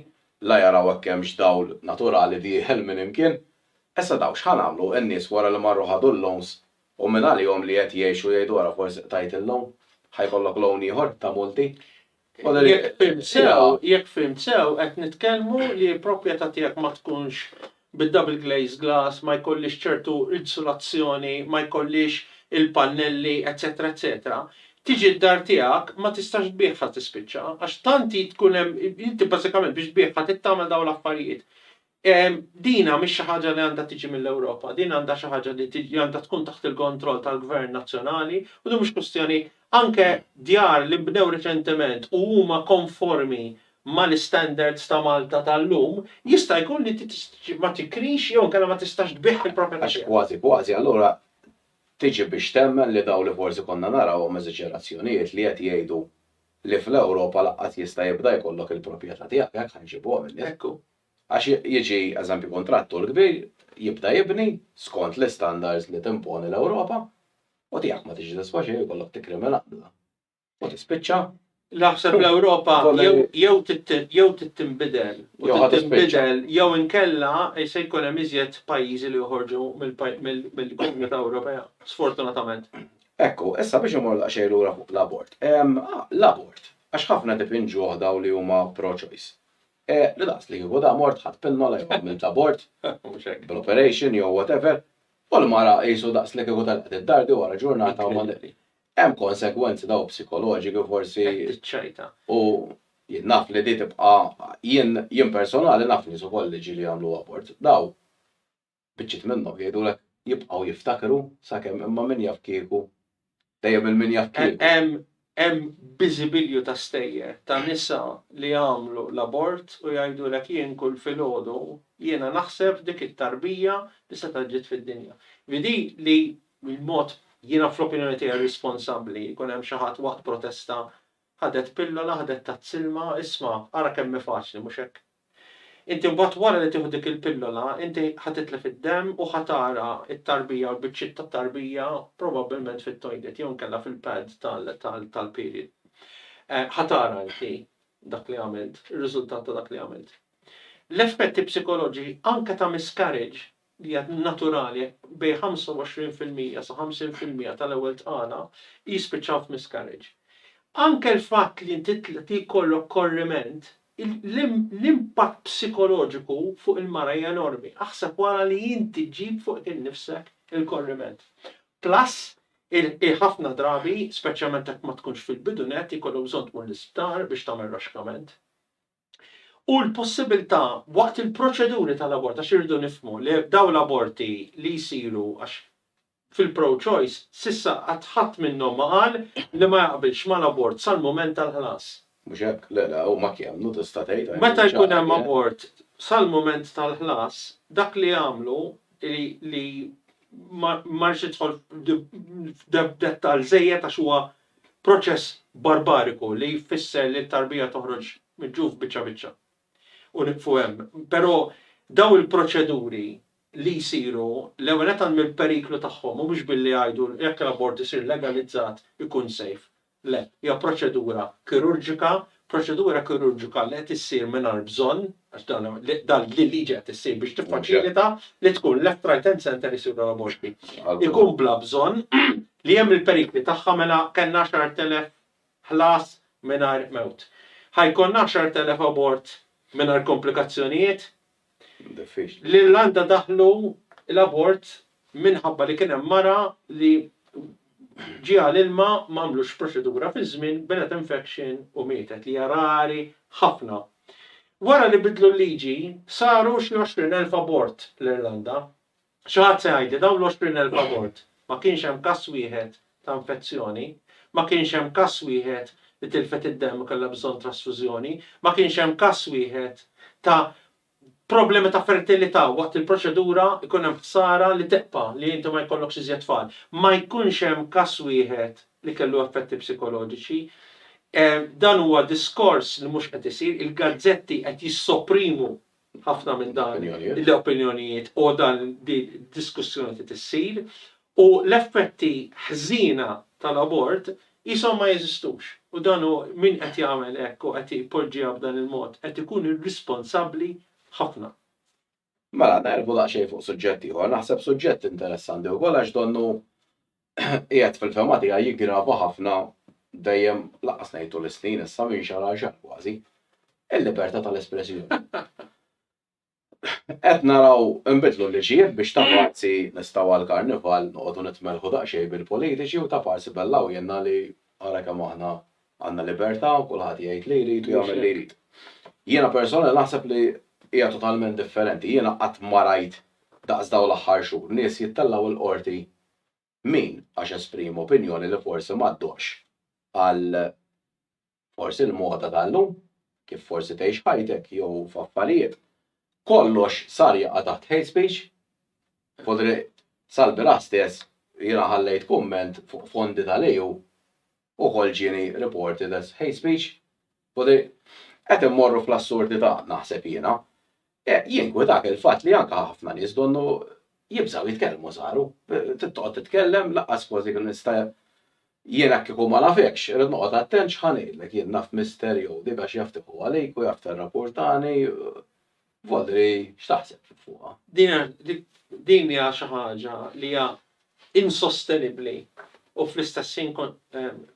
la jaraw hekk hemmx dawl naturali dieħel minn imkien. Issa dawn x'ħa nagħmlu, in-nies wara li marru ħadu l-loans u mingħalihom li qed jgħixu jgħidu ara forsi qtajt il-loan, ħa jkollok loan ieħor ta' multi? Jekk fimt sew, jekk fimt sew qed nitkellmu li l-proprjetà tiegħek ma tkunx bid-double glazed glass, ma jkollhiex ċertu insulazzjoni, ma jkollhiex il-pannelli, eċċetera eċċetera. Tiġi d-dar tiegħek ma tistax tbigħha tispiċċa għax tant hi tkun hemm, inti bażikament biex tbigħha trid tagħmel dawn l-affarijiet. Dina mhix xi ħaġa li għandha tiġi mill-Ewropa, din għandha xi ħaġa li tiġi għandha tkun taħt il-kontroll tal-gvern nazzjonali u din mhux kwistjoni anke djar li nbnew reċentement u huma konformi mal-istandards ta' Malta tal-lum, jista' jkun li inti ma tikkrix jew inkella ma tistax tbigħ il-proprjetà tiegħek. Għax kważi kważi allura tiġi biex temmen li dawn li forsi konna narawhom eżaġerazzjonijiet li qed jgħidu li fl-Ewropa lanqas jista' jibda jkollok il-proprjetà tiegħek, hekk ħa nġibuha min-nies. Hekk hu. Għax jiġi eżempju kuntrattur kbir, jibda jibni skont l-istandards li timponi l-Ewropa u tiegħek ma tiġdisfa xejn u jkollok tikkrimina bla u tispiċċa. Naħseb l-Ewropa jew trid tinbidel u trid tinbidel jew inkella se jkun hemm iżjed pajjiżi li joħorġu mill-Komunità Ewropea, sfortunatament. Ekku, issa biex immorru daqsxejn lura fuq l-abort. L-abort, għax ħafna tipinġuh dawn li huma pro-choice. E, li daqs li kieku da mort ħadd pinnola jew għamilt abort, bl-operation jew whatever, u l-mara qisu daqs li kieku telqet id-dar di wara ġurnata u malli. Hemm konsegwenzi daw psikoloġiki forsi. Ċajta. U jien naf li di tibqa' jien jien personali naf nies ukoll li ġieli jagħmlu abort. Daw Biċċiet minnhom jgħidulek jibqgħu jiftakru sakemm imma min jaf kieku, dejjem il-min jaf kieku. Hemm biżibilju ta' stejjer ta' nisa li għamlu l-abort u jgħidulek jien kull filgħodu jiena naħseb f'dik it-tarbija li setgħet ġiet fid-dinja. Vidi li l-mod, jiena fl-opinjoni tiegħi responsabbli, jkun hemm xi ħadd waħd protesta Ħadet pillola, ħadet tazz'ilma, isma', ara kemm hi faċli, mhux hekk? Inti mbagħad wara li tieħu dik il-pillola, inti ħa titlef id-demm u ħa tara t-tarbija u l-biċċiet tat-tarbija probabbilment fit-toilet jew inkella fil-pad tal-period. Ħa tara inti dak li għamilt, ir-riżultat ta' dak li għamilt. L-effetti psikoloġiċi anke ta' miscarriage li hija naturali jekk bejn 25 fil-mija sa 50 fil-mija tal-ewwel tqala jispiċċaw f'miscarriage. Anke l-fatt li inti li jkollok korriment, l-impatt psikoloġiku fuq il-mara hija enormi. Aħseb wara li inti ġġib fuqek innifsek il-korriment. Plus, ħafna drabi, speċjalment jekk ma tkunx fil-bidu nett, ikollok bżonn tmur l-isptar biex tagħmel raxkament. u l-possibilità waqt il-proċeduri tal-abort, għax irridu nifhmu li dawn l-aborti li jsiru għax fil-pro-choice s'issa qatt ħadd minnhom ma qal li ma jaqbilx mal-abort sal-mument tal-ħlas. Mhux hekk, le le, huma hekk jemmnu tista' tgħid, għajnuna ċara. Meta jkun hemm abort sal-mument tal-ħlas, dak li jagħmlu hi li ma rridx nidħol f'dettall żejjed għax huwa Proċess barbariku li jfisser li t-tarbija toħroġ mill-ġuf biċċa biċċa u nieqfu hemm. Però dawn il-proċeduri li jsiru l-ewwel nett għandhom il-periklu tagħhom, mhumiex billi jgħidu jekk l-abort isir legalizzat ikun safe. Le, hija proċedura kirurġika proċedura kirurġika li qed issir mingħajr bżonn, għax dan dan din liġi qed issir biex tiffaċilita li tkun left, right and centre isiru l-aborti. Ikun bla bżonn, li hemm il-perikli tagħha mela kellna 10,000 ħlas mingħajr mewt. Ħa jkollna 10,000 abort mingħajr komplikazzjonijiet? L-Irlanda daħħlu l-abort minħabba li kien hemm mara li ġie għal ilma ma għamlux proċedura fiż-żmien, b'net infection u mietet, li hija rari ħafna. Wara li biddlu l-liġi saru xi 20,000 abort l-Irlanda. X'ħadd se jgħidli dawn l-għoxrin elf abort? Ma kienx hemm każ wieħed ta' infezzjoni? Ma kienx hemm każ wieħed li tilfet id-demm u kellha bżonn trasfużjoni? Ma kienx hemm każ wieħed ta' problemi ta' fertilità u waqt il-proċedura jkun hemm ħsara li tibqa' li inti ma jkollokx iżjed tfal? Ma jkunx hemm każ wieħed li kellu effetti psikoloġiċi? Dan huwa diskors li mhux qed isir, il-gazzetti qed jissopprimu ħafna minn dan l-opinjonijiet u dan diskussjoni trid issir u l-effetti ħżiena tal-abort qishom ma jeżistux u dan hu min qed jagħmel hekk u qed jpoġġiha b'dan il-mod qed ikun irrisponsabbli ħafna. Mela, neqirbu daqsxejn fuq suġġett ieħor, naħseb suġġett interessanti wkoll għax donnu qiegħed fil-fehma tiegħi jiggrava ħafna dejjem lanqas ngħidtu l-isnin issa minn xahar għal xahar kważi. Il-libertà tal-espressjoni. Qed naraw inbidlu l-liġijiet biex ta' parsi nistgħu għal karnival noqogħdu nitmelħu daqsxejn bil-politiċi u ta' parsi bellaw jenna li ara kemm aħna għandna libertà u kulħadd jgħid li jrid u jagħmel li jrid. Jiena personali naħseb li hija totalment differenti. Jiena qatt ma rajt daqs dawn l-aħħar xhur nies jittellgħu il-Qorti Min għax esprima opinjoni li forsi ma ddoqx għal forsi l-moda tal-lum, kif forsi tgħix ħajtek jew f'affarijiet, kollox sar jaqa' taħt hate speech? Fodry, sal-bilanċ stess jiena ħallejt kumment fuq fondi tal-EU ukoll ġieni reported as hate speech Buddy, Qed immorru fl-assurdità, naħseb jiena. Jinkwitak il-fatt li anke ħafna nies donnu jibżgħu jitkellmu żgħar u trid toqgħod titkellem lanqas kważi kien nista' jien hekk kieku ma nafekx, irrid noqgħod attent x'ħa ngħidlek, jien naf Mister jew dik għax jaf tieħu għalik u jaf tirrapurtani, Valdri, x'taħseb fuqha? Din hija xi ħaġa li hija insostenibbli u fl-istess ħin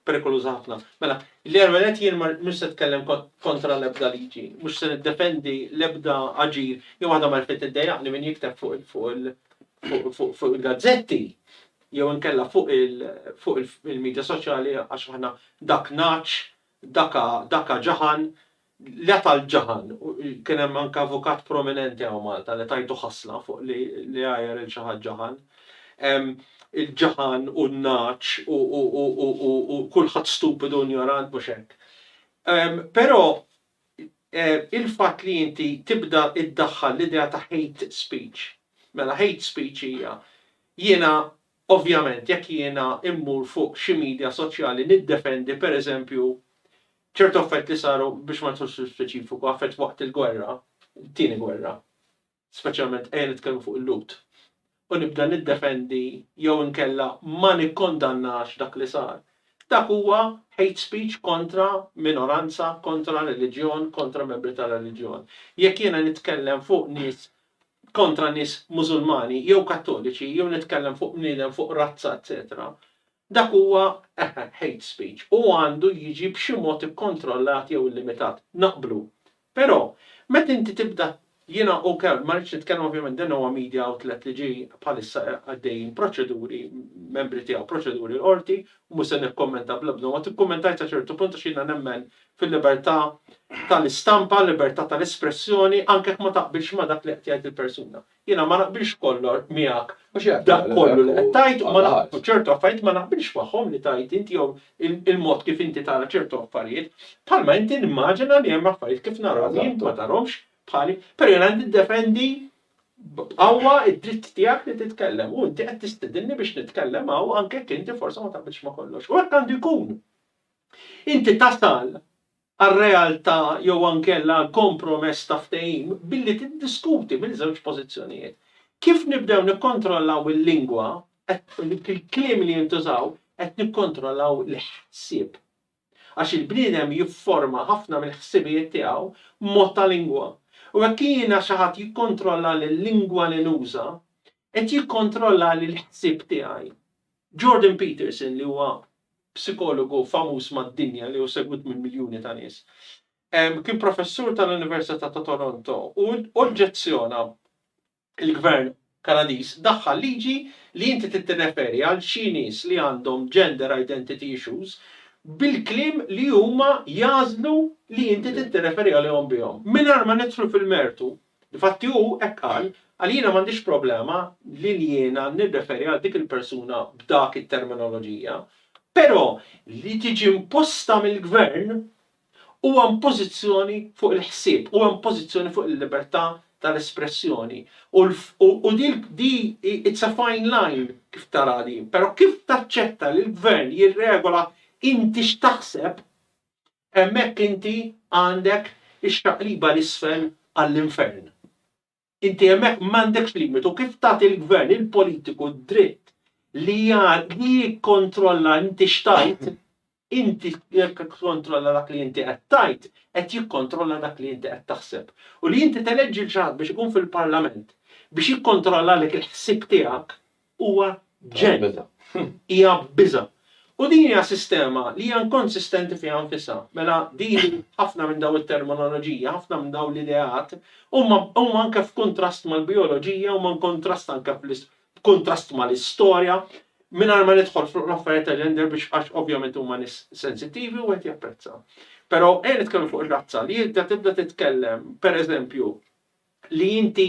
perikoluża ħafna. Mela, l-ewwel nett jien mhux se nitkellem kontra l-ebda liġi, mhux se niddefendi l-ebda aġir, jew waħda ma nifitx iddejjaqni min jikteb fuq il-gazzetti jew inkella fuq il-midja soċjali għax aħna dak ngħaġ, daka ġaħan, L-età tal-ġaħan, kien hemm anke avukat prominenti hawn Malta li tajtu ħasla fuq li li għajjar lil xi ħadd ġaħan. Il-ġaħan u n-nagħaġ u u u u u u kulħadd stupidu u injorant mhux hekk. Però il-fatt li inti tibda iddaħħal l-idea ta' hate speech. Mela hate speech hija jiena ovvjament jekk jiena mmur fuq xi midja soċjali niddefendi pereżempju Ċertu affarijiet li saru biex ma nidħlux fl-ispeċifiku, affarijiet waqt il-gwerra, it-tieni gwerra, speċjalment ejja nitkellmu fuq il-Lut, u nibda niddefendi jew inkella ma nikkondannax dak li sar. Dak huwa hate speech kontra minoranza, kontra reliġjon, kontra membri ta' reliġjon. Jekk jiena nitkellem fuq nies kontra nies Mużulmani jew Kattoliċi jew nitkellem fuq bniedem fuq razza etc. Dak huwa hate speech u għandu jiġi b'xi mod ikkontrollat jew illimitat. Naqblu. Però, meta inti tibda, jiena ukoll ma rridx nitkellem ovvjament dan huwa media outlet li ġej bħalissa għaddejjin proċeduri, membri tiegħu, proċeduri l-Qorti u mhux se nikkummenta bl-ebda mod, ikkummentajt sa ċertu punt għax jiena nemmen fil-libertà tal-istampa, libertà tal-espressjoni, anke jekk ma taqbilx ma' dak li qed jgħid il-persuna. Jiena ma naqbilx kollor miegħek b'dak kollu li qed tgħid u ma naq u ċertu affarijiet ma naqbilx magħhom li tgħid inti jew il il-mod kif inti tara ċertu affarijiet, bħalma inti nimmaġina li hemm affarijiet kif narahom jien ma tarahomx bħali, però jiena niddefendi b' qawwa d-dritt tiegħek li titkellem u inti qed tistedinni biex nitkellem hawn anke jekk inti forsi ma taqbilx ma' kollox. U hekk għandu jkun. Inti tasal għar-realtà jew ankella għal kompromess ta' ftehim billi tiddiskuti mill-żewġ pożizzjonijiet. Kif nibdew nikkontrollaw il-lingwa, il-kliem li jintużaw, qed nikkontrollaw il-ħsieb. Għax il-bniedem jifforma ħafna mill-ħsibijiet tiegħu b'mod ta' lingwa. U jekk jiena xi ħadd jikkontrollali l-lingwa li nuża, qed jikkontrollali l-ħsieb tiegħi. Jordan Peterson, li huwa psikologu famuż mad-dinja li hu segwit minn miljuni ta' nies, kien professur tal-Università ta' Toronto u oġġezzjona l-Gvern Kanadiż daħħal liġi li inti trid tirreferi għal xi nies li għandhom gender identity issues bil-kliem li huma jagħżlu li inti trid tirreferi għalihom bihom, mingħajr ma nidħlu fil-mertu Difatti hu hekk qal, Għal jiena m'għandix problema lil jiena nirreferi għal dik il-persuna b'dak it-terminoloġija, però li tiġi imposta mill-Gvern huwa impożizzjoni fuq il-ħsieb, huwa impożizzjoni fuq il-libertà tal-espressjoni u di it's a fine line kif taraha din, però kif taċċetta li l-Gvern jirregola inti x'taħseb Hemmhekk inti għandek ix-xaqliba 'l isfel għall-infern. Inti hemmhekk m'għandekx limitu kif tagħti l-gvern, il-politiku d-dritt li li jikkontrolla inti x'tgħid, inti jekk tikkontrolla dak li inti qed tgħid, qed jikkontrolla dak li inti qed taħseb. U li inti teleġġi 'l xi ħadd biex ikun fil-Parlament biex jikkontrollalek il-ħsieb tiegħek, Huwa ġenn. Hija biża'. U din hija sistema li hija inkonsistenti fiha nfisha. Mela din ħafna minn dawn it-terminoloġija, ħafna minn dawn l-ideat huma huma anke f'kuntrast mal-bijoloġija, huma nkuntrast anke fl-is b'kuntrast mal-istorja, mingħajr ma nidħol fuq l-affarijiet ta' gender biex għax ovvjament huma nies sensittivi u wieħed japprezza. Però ejja nitkellmu fuq ir-razza li inta tibda titkellem, pereżempju, li inti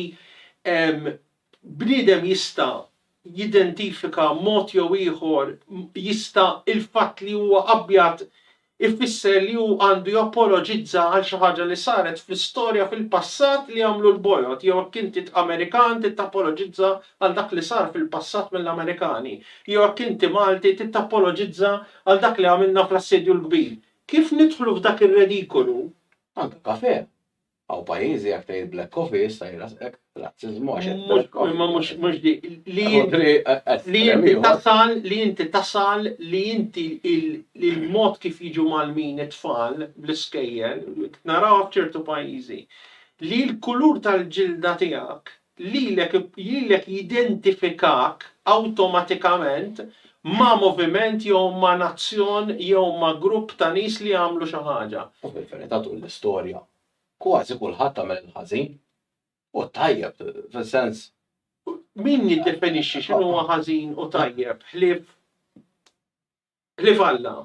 bniedem jista' jidentifika mod jew ieħor jista' il-fatt li huwa abbjat ifisser li hu għandu japoloġizza għal xi ħaġa li saret fl-istorja fil-passat li għamlu l-bojod jew jekk inti Amerikan trid tapoloġizza għal dak li sar fil-passat mill-Amerikani jew jekk inti Malti trid tapoloġizza għal dak li għamilna fl-Assedju l-Kbir. Kif nidħlu f'dak ir-redikolu? Anke kafè. Hawn pajjiżi jekk tgħid black coffee issa jrasqek razziżmu għax qed black coffee. Imma mhux mhux di li inti tasal li inti tasal li inti il-mod kif jiġu mgħallmin it-tfal bl-iskejjel, narahha f'ċertu pajjiżi, li l-kulur tal-ġilda tiegħek lilek lilek jidentifikak awtomatikament ma' moviment jew ma' nazzjon jew ma' grupp ta' nies li għamlu xi ħaġa. U fil-verità tul l-istorja kważi kulħadd għamel il-ħażin u t-tajjeb, fis-sens. Min jiddefinixxi x'inhuwa ħażin u tajjeb ħlief Ħlief Alla,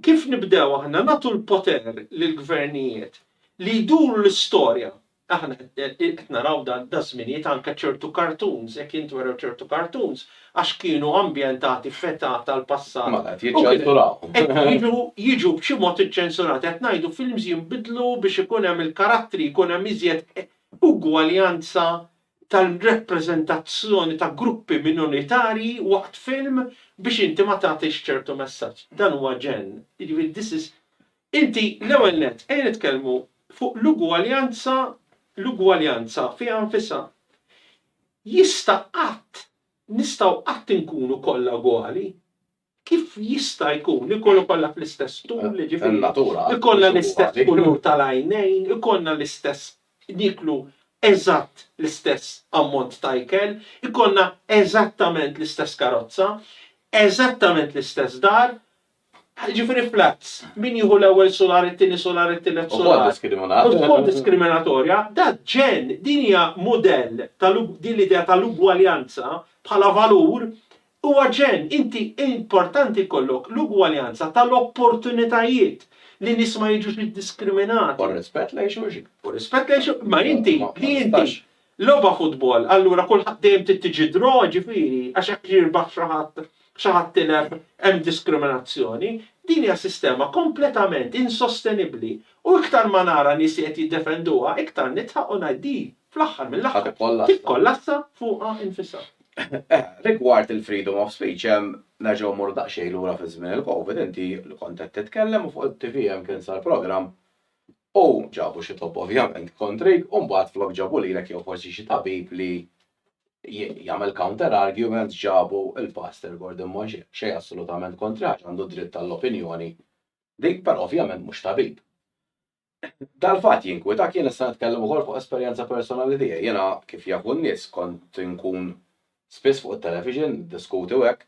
kif nibdew aħna nagħtu l-poter lill-gvernijiet li jduru l-istorja? Aħna qed naraw daż-żminijiet anke ċertu cartoons, jekk jintwerew ċertu cartoons, għax kienu ambjentati f'età tal-passat. Mela qed jiċċensurahom. Qed jiġu b'xi mod iċċensurati. Qed ngħidu films jinbidlu biex ikun hemm il-karattri jkun hemm iżjed ugwaljanza tal-rappreżentazzjoni ta' gruppi minoritarji waqt film biex inti ma tagħtix ċertu messaġġ. Dan huwa ġenn. Jiġifieri this is inti l-ewwel nett ejja nitkellmu fuq l-ugwaljanza l-ugwaljanza fiha nfisha jista' qatt nistgħu qatt inkunu kollha ugwali. Kif jista' jkun ikunu kollha fl-istess tul, jiġifieri, ikollna l-istess kulur tal-għajnejn, ikollna l-istess, nieklu eżatt l-istess ammont ta' ikel, ikollna eżattament l-istess karozza, eżattament l-istess dar, jiġifieri flats, min jieħu l-ewwel sular, it-tieni sular, it-tielet sular, ukoll diskriminatorja, da ġenn, din hija mudell, din l-idea tal-ugwaljanza bħala valur Huwa ġenn, inti importanti jkollok l-ugwaljanza tal-opportunitajiet, li nies ma jiġux iddiskriminati. U rispett lejn xulxin. U rispett lejn xulxin. Imma inti, li inti, logħba futbol, allura kulħadd dejjem trid tiġi draw, ġifieri, għax jekk jirbaħ xi ħadd, xi ħadd tilef, hemm diskriminazzjoni. Din hija sistema kompletament insostenibbli u iktar ma nara nies li qed jiddefenduha, iktar nidħaq u ngħid din, fl-aħħar mill-aħħar, tikkollassa fuqha nfisha. Rigward il-freedom of speech hemm nerġgħu mmorru daqsxejn lura fi żmien il-Covid inti li kont qed titkellem u fuq it-TV hemm kien sar programm u ġabu xi topp ovvjament kontrik u mbagħad flok ġabu lilek jew forsi xi tabib li jagħmel counter arguments ġabu l-Pastor Gordon Moshe. Xejn assolutament kontrarju għandu dritt għall-opinjoni dik però ovvjament mhux tabib. Dal-fatt jinkwetak, jien nista' nitkellem ukoll fuq esperjenza personali tiegħi. Jiena, kif jafu n-nies, kont inkun spiss fuq it-television niddiskuti u hekk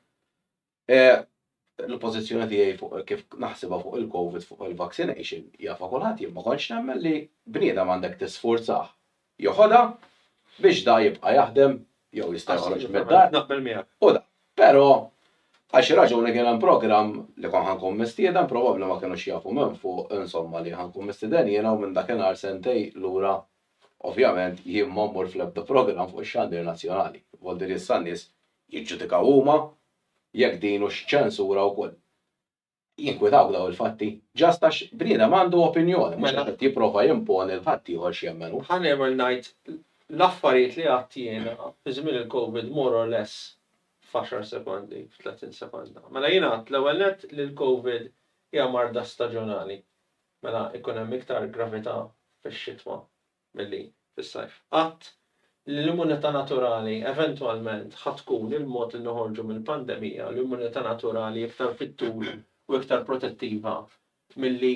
l-pożizzjoni tiegħi fuq kif naħsibha fuq il-Covid, fuq il-vaccination, jafha kulħadd, jien ma kontx nemmen li bniedem għandek tisfurzah joħodha biex da jibqa' jaħdem jew jista' joħroġ mid-dar. Naqbel miegħek. U da. Però għal xi raġuni kien hemm programm li kont ħa nkun mistieden, probabbli ma kinux jafu minn fuq insomma li ħa nkun mistieden jiena u minn dakinhar sentejn lura ovvjament jien ma mmur fl-ebda programm fuq ix-xandir nazzjonali. Vol dire issa n-nies jiġġudikaw huma jekk din hux ċensura wkoll. Jinkwetawk dawn il-fatti? Just għax bniedem għandu opinjoni, mhux għax qed jipprova jimponi lil ħaddieħor x'jemmen hu. Ħa nagħmel ngħid l-affarijiet li għadt jien fi żmien il-Covid more or less f'għaxar sekondi, f'tletin sekonda. Mela jien għadt l-ewwel nett li l-Covid hija marda staġjonali. Mela jkun hemm iktar gravità fix-xitwa. milli fis-sajf qatt, li l-immunità naturali eventwalment ħa tkun il-mod li noħorġu mill-pandemija u li immunità naturali iktar fit-tul u iktar protettiva milli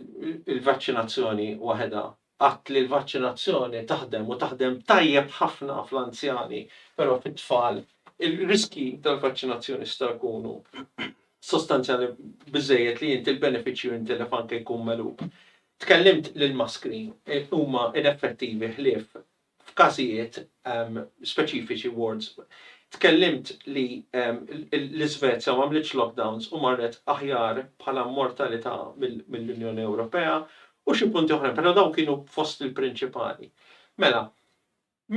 l-vaċċinazzjoni waħedha. Qatt li l-vaċċinazzjoni taħdem u taħdem tajjeb ħafna fl-anzjani, però fit-tfal ir-riskji tal-vaċċinazzjoni jistgħu jkunu sostanzjali biżżejjed li inti l-benefiċċju inti li f'anke jkun megħlub. Tkellimt li l-maskri huma ineffettivi ħlief f'każijiet speċifiċi, wards. Tkellimt li l-Isvezja m'għamlitx lockdowns u marret aħjar bħala mortalità mill-Unjoni Ewropea u xi punti oħrajn, però dawn kienu fost il-prinċipali. Mela,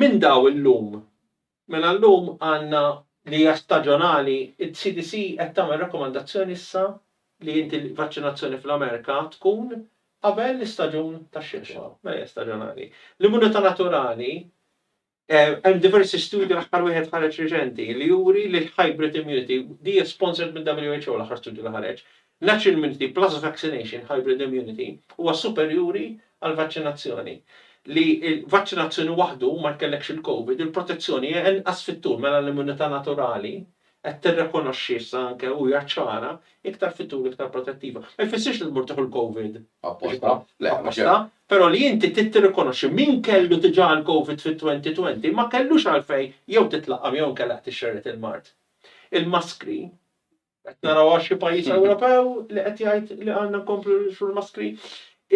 minn dawn illum Mela llum għandna li hija staġonali, il-CDC qed tagħmel rakkomandazzjoni issa li inti l-vaċċinazzjoni fl-Amerika tkun qabel l-istaġun tax-xita. Mela hija staġonali. L-immunità naturali, hemm diversi studji l-aħħar wieħed ħareġ riċenti li juri li l-hybrid immunity, din hija sponsored mill-WHO l-aħħar studju li ħareġ, L-għaġġ immunity plus vaccination hybrid immunity huwa superjuri għall-vaċċinazzjoni. Li l-vaċċinazzjoni waħdu ma jkellekx il-Covid, il-protezzjoni hija inqas fit-tul mela l-immunità naturali qed tirrekonoxxi issa anke u hija ċara, iktar fit-tul iktar protettiva. Ma jfissirx li tmur tieħu l-Covid Apposta, le, mhux hekk. apposta, però li inti trid tirrikonoxxi min kellu diġà l-Covid fit-2020 ma kellux għalfejn jew titlaqqam jew inkella qed ixxerred il-mard. Il-maskri, Qed naraw għal xi pajjiż Ewropew li qed jgħid li għandna nkomplu nilbsu l-maskri.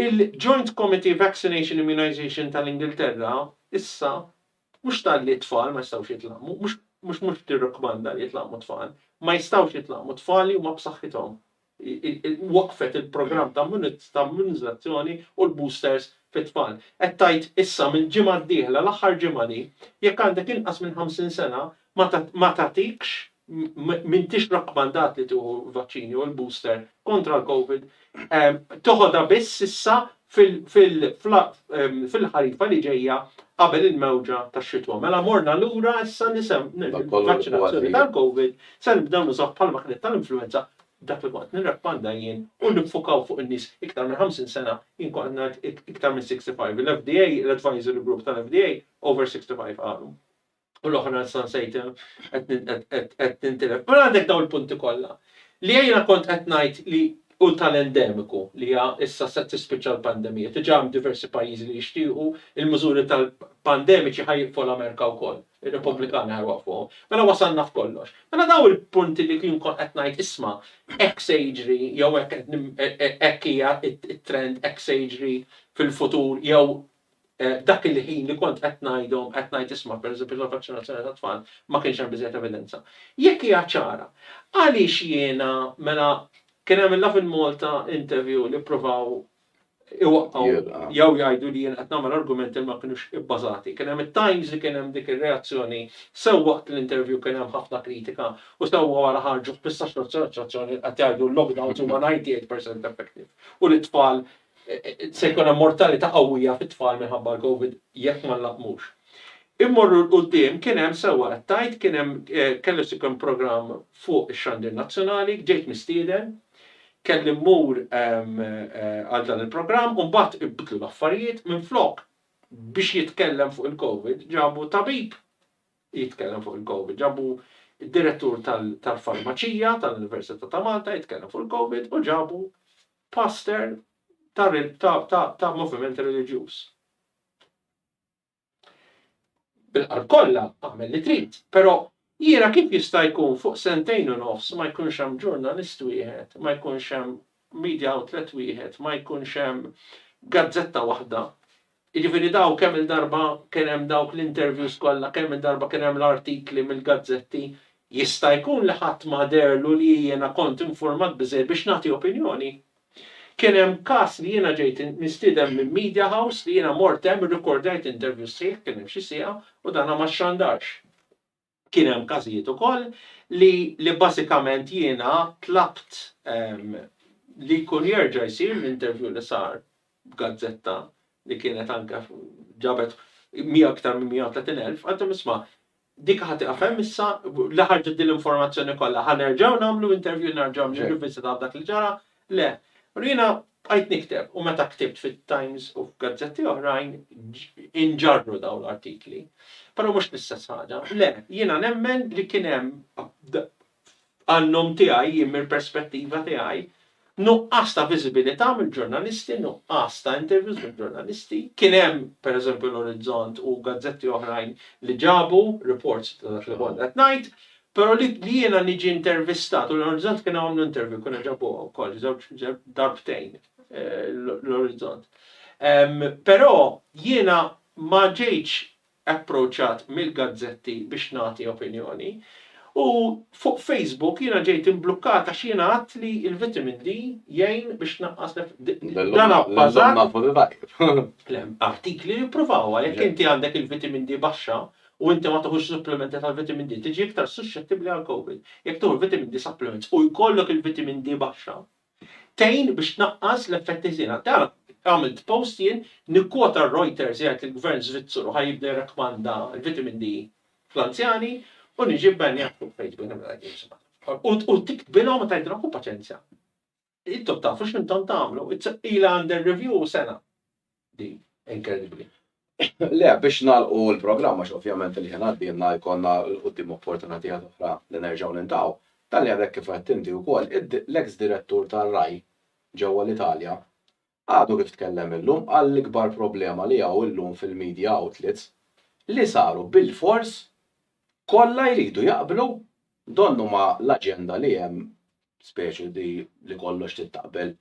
Il-Joint Committee Vaccination Immunisation tal-Ingilterra issa mhux tgħid li t-tfal ma jistgħux jitlaqqmu, mhux mhux mhux tirrekkmanda li jitlaqqmu t-tfal, ma jistgħux jitlaqqmu t-tfal li huma b'saħħithom. Waqqfet il-programm ta' ta' immunizazzjoni u l-boosters fit-tfal. Qed tgħid issa mill-ġimgħa d-dieħla, l-aħħar ġimgħa di, jekk għandek inqas minn 50 sena ma tagħtikx m'intix rakkmandat li tieħu l-vaċċini jew il-booster kontra l-Covid, teħodha biss issa fil-ħarifa li ġejja qabel il-mewġa tax-xitwa. Mela morna lura issa li se l-vaċċinazzjoni tal-Covid se nibdew nużawh bħalma kienet tal-influwenza, dak li kont nirrakkmanda jien u niffukaw fuq in-nies iktar minn 50 sena, jien kont ngħid iktar minn 65, l-FDA, l-advisory group tal-FDA, over 65 qalu. u l-oħra nista' nsejtha qed tintilef. Mela għandek dawn il-punti kollha. Li jiena kont qed ngħid li hu tal-endemiku li hija issa se tispiċċa l-pandemija. Diġà hemm diversi pajjiżi li jixtiequ l-miżuri tal-pandemiċi ħa jieqfu l-Amerika wkoll. Ir-Repubblikani ħa jwaqqfuhom. Mela wasalna f'kollox. Mela dawn il-punti li jien kont qed ngħid isma' hekk se jiġri jew hekk hekk hija t-trend hekk se jiġri fil-futur jew dak il-ħin li kont qed ngħidhom, qed ngħid isma', pereżempju tal-vaċċinazzjoni tat-tfal, ma kienx hemm biżżejjed evidenza. Jekk hija ċara, għaliex jiena, mela, kien hemm il-Love in Malta interview li ppruvaw iwaqqgħu jew jgħidu li jiena qed nagħmel argumenti li ma kinux ibbażati. Kien hemm it-Times li kien hemm dik ir-reazzjoni, sew waqt l-interview kien hemm ħafna kritika u sewwa wara ħarġu 15 l-osservazzjoni li qed jgħidu l-lockdowns huma 98 percent effective u li t-tfal Se jkun hemm mortalità qawwija fit-tfal minħabba l-Covid jekk ma nlaqqmux. Immorru 'l quddiem, kien hemm, sewwa qed tgħid, kien hemm, kellu se jkun hemm programm fuq ix-Xandir Nazzjonali, ġejt mistieden, kelli mmur għal dan il-programm u mbagħad inbidlu l-affarijiet, minflok biex jitkellem fuq il-Covid ġabu tabib jitkellem fuq il-Covid, ġabu d-direttur tal-farmaċija tal-Università ta' Malta jitkellem fuq il-Covid u ġabu Pastor ta' moviment reliġjuż. Bil-qalb kollha agħmel li trid, però jiena kif jista' jkun fuq sentejn u nofs ma jkunx hemm ġurnalist wieħed, ma jkunx hemm media outlet wieħed, ma jkunx hemm gazzetta waħda Jiġifieri daw kemm-il darba kien hemm dawk l-interviews kollha, kemm-il darba kien hemm l-artikli mill-gazzetti, jista' jkun li ħadd ma deherlu li jiena kont infurmat biżżejjed biex nagħti opinjoni. Kien hemm każ li jiena ġejt mistieden minn media house li jiena mort hemm irrikordajt interview sħiħ, kien hemm xi siegħa, u dan ma xxandarx. Kien hemm każijiet ukoll li li bażikament jiena tlabt li jkun jerġa' jsir l-interview li sar b'gazzetta li kienet anke ġabet miegħu iktar minn 130 elf, għidthom isma' dik ħa tieqaf hemm issa li ħarġet din l-informazzjoni kollha ħa nerġgħu nagħmlu interview nerġgħu nirrivisitaw dak li ġara Le, u jiena bqajt nikteb u meta ktibt fit-Times u f'gazzetti oħrajn inġarru dawn l-artikli. Però mhux l-istess ħaġa. Le, jiena nemmen li kien hemm, għan-nom tiegħi jien mill-perspettiva tiegħi, nuqqas ta' viżibilità mill-ġurnalisti, nuqqas ta' interviews mill-ġurnalisti. Kien hemm, pereżempju l-Orizzont u gazzetti oħrajn li ġabu reports ta' dak li kont qed ngħid, Però li jiena niġi intervistat u l-Orizzont kienu għamlu interview, kienu ġabuha wkoll żewġ darbtejn l-Orizzont. Però jiena ma ġejtx approachat mill-gazzetti biex nagħti opinjoni u fuq Facebook jiena ġejt imblukkat għax jiena għadt li l-Vitamin D jgħin biex tnaqqas Dan abbażat Le, artikli li ppruvaw, jekk inti għandek il-Vitamin D baxxa, u inti ma tieħux supplementi tal-vitamin D tiġi iktar suxxettibbli għall-Covid. Jekk tieħu l-vitamin D supplements u jkollok il-vitamin D baxxa, tgħin biex tnaqqas l-effetti ħżiena. Dan għamilt post jien nikkwota r-Reuters jgħid li l-Gvern Żvizzeru ħa jibda jirrakkmanda l-vitamin D fl-anzjani u niġi bannjat fuq Facebook. U tiktbilhom u tgħidilhom hu paċenzja. Intom tafu x'intom tagħmlu, ilha under review sena din, inkredibbli. Le, biex nagħlqu l-programm għax ovvjament il-ħin għaddielna jkollna l-quddiem opportunità oħra li nerġgħu nintaw. Talli għadek kif għedt inti wkoll, l-eks direttur tar-RAI ġewwa l-Italja Għadu kif tkellem illum qal l-ikbar problema li hawn illum fil-media outlets li saru bilfors kollha jridu jaqblu donnu ma' l-aġenda li hemm speċi di li kollox trid taqbel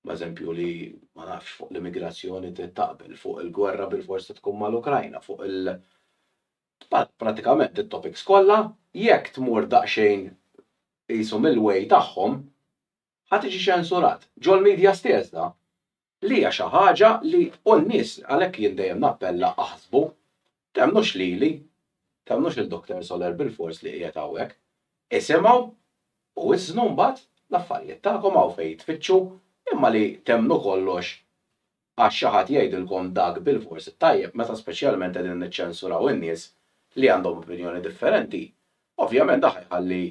ma' eżempju li ma nafx fuq l-immigrazzjoni trid taqbel fuq il-gwerra bilfors trid tkun ma' l-Ukrajna fuq il tbagħat pratikament it-topics kollha jekk tmur daqsxejn qisu mill-way tagħhom ħa tiġi ċensurat ġol-media stess da. Li hija xi ħaġa li u n-nies għalhekk jien dejjem nappella aħsbu. Temmnux lili. Temmnux lil Doktor Soler bilfors li qiegħed hawnhekk. Isimgħu u iżżnu mbagħad l-affarijiet tagħkom hawn fejn tfittxu imma li temmnu kollox Għax xi ħadd jgħidilkom dak bilfors it-tajjeb meta speċjalment qegħdin niċċensuraw in-nies li għandhom opinjoni differenti, ovvjament dak ħajħalli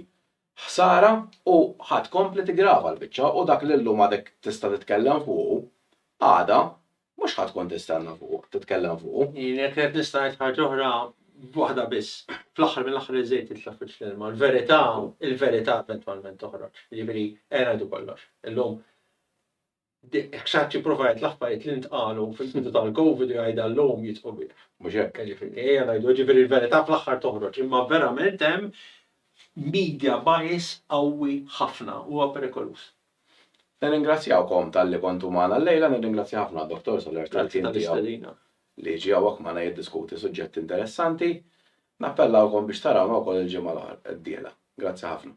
ħsara u ħa tkompli tiggrava l-biċċa u dak li llum għadek tista' titkellem fuqu, għada mhux ħa tkun tistenna fuq titkellem fuqu. Jien jekk qed nista' ngħid ħaġa oħra, waħda biss, fl-aħħar mill-aħħar iż-żejt jitla' f'wiċċ l-ilma. Il-verità, il-verità eventwalment toħroġ. Jiġifieri, ejja ngħidu kollox. Illum X'għad jipprova jgħid l-affarijiet li ntqalu fil-bidu tal-Covid u jgħidha llum jidħku bih. Mhux hekk, ġifieri ejja ngħidu, ġifieri l-verità fl-aħħar toħroġ, imma verament hemm media bias qawwi ħafna, huwa perikoluż. Nirringrazzjawkom talli kontu magħna llejla, nirringrazzja ħafna d-Dottor Soler tal-ħin tiegħu li ġie hawnhekk magħna jiddiskuti suġġetti interessanti. Nappellawkom biex tarawna wkoll il-ġimgħa d-dieħla. Grazzi ħafna.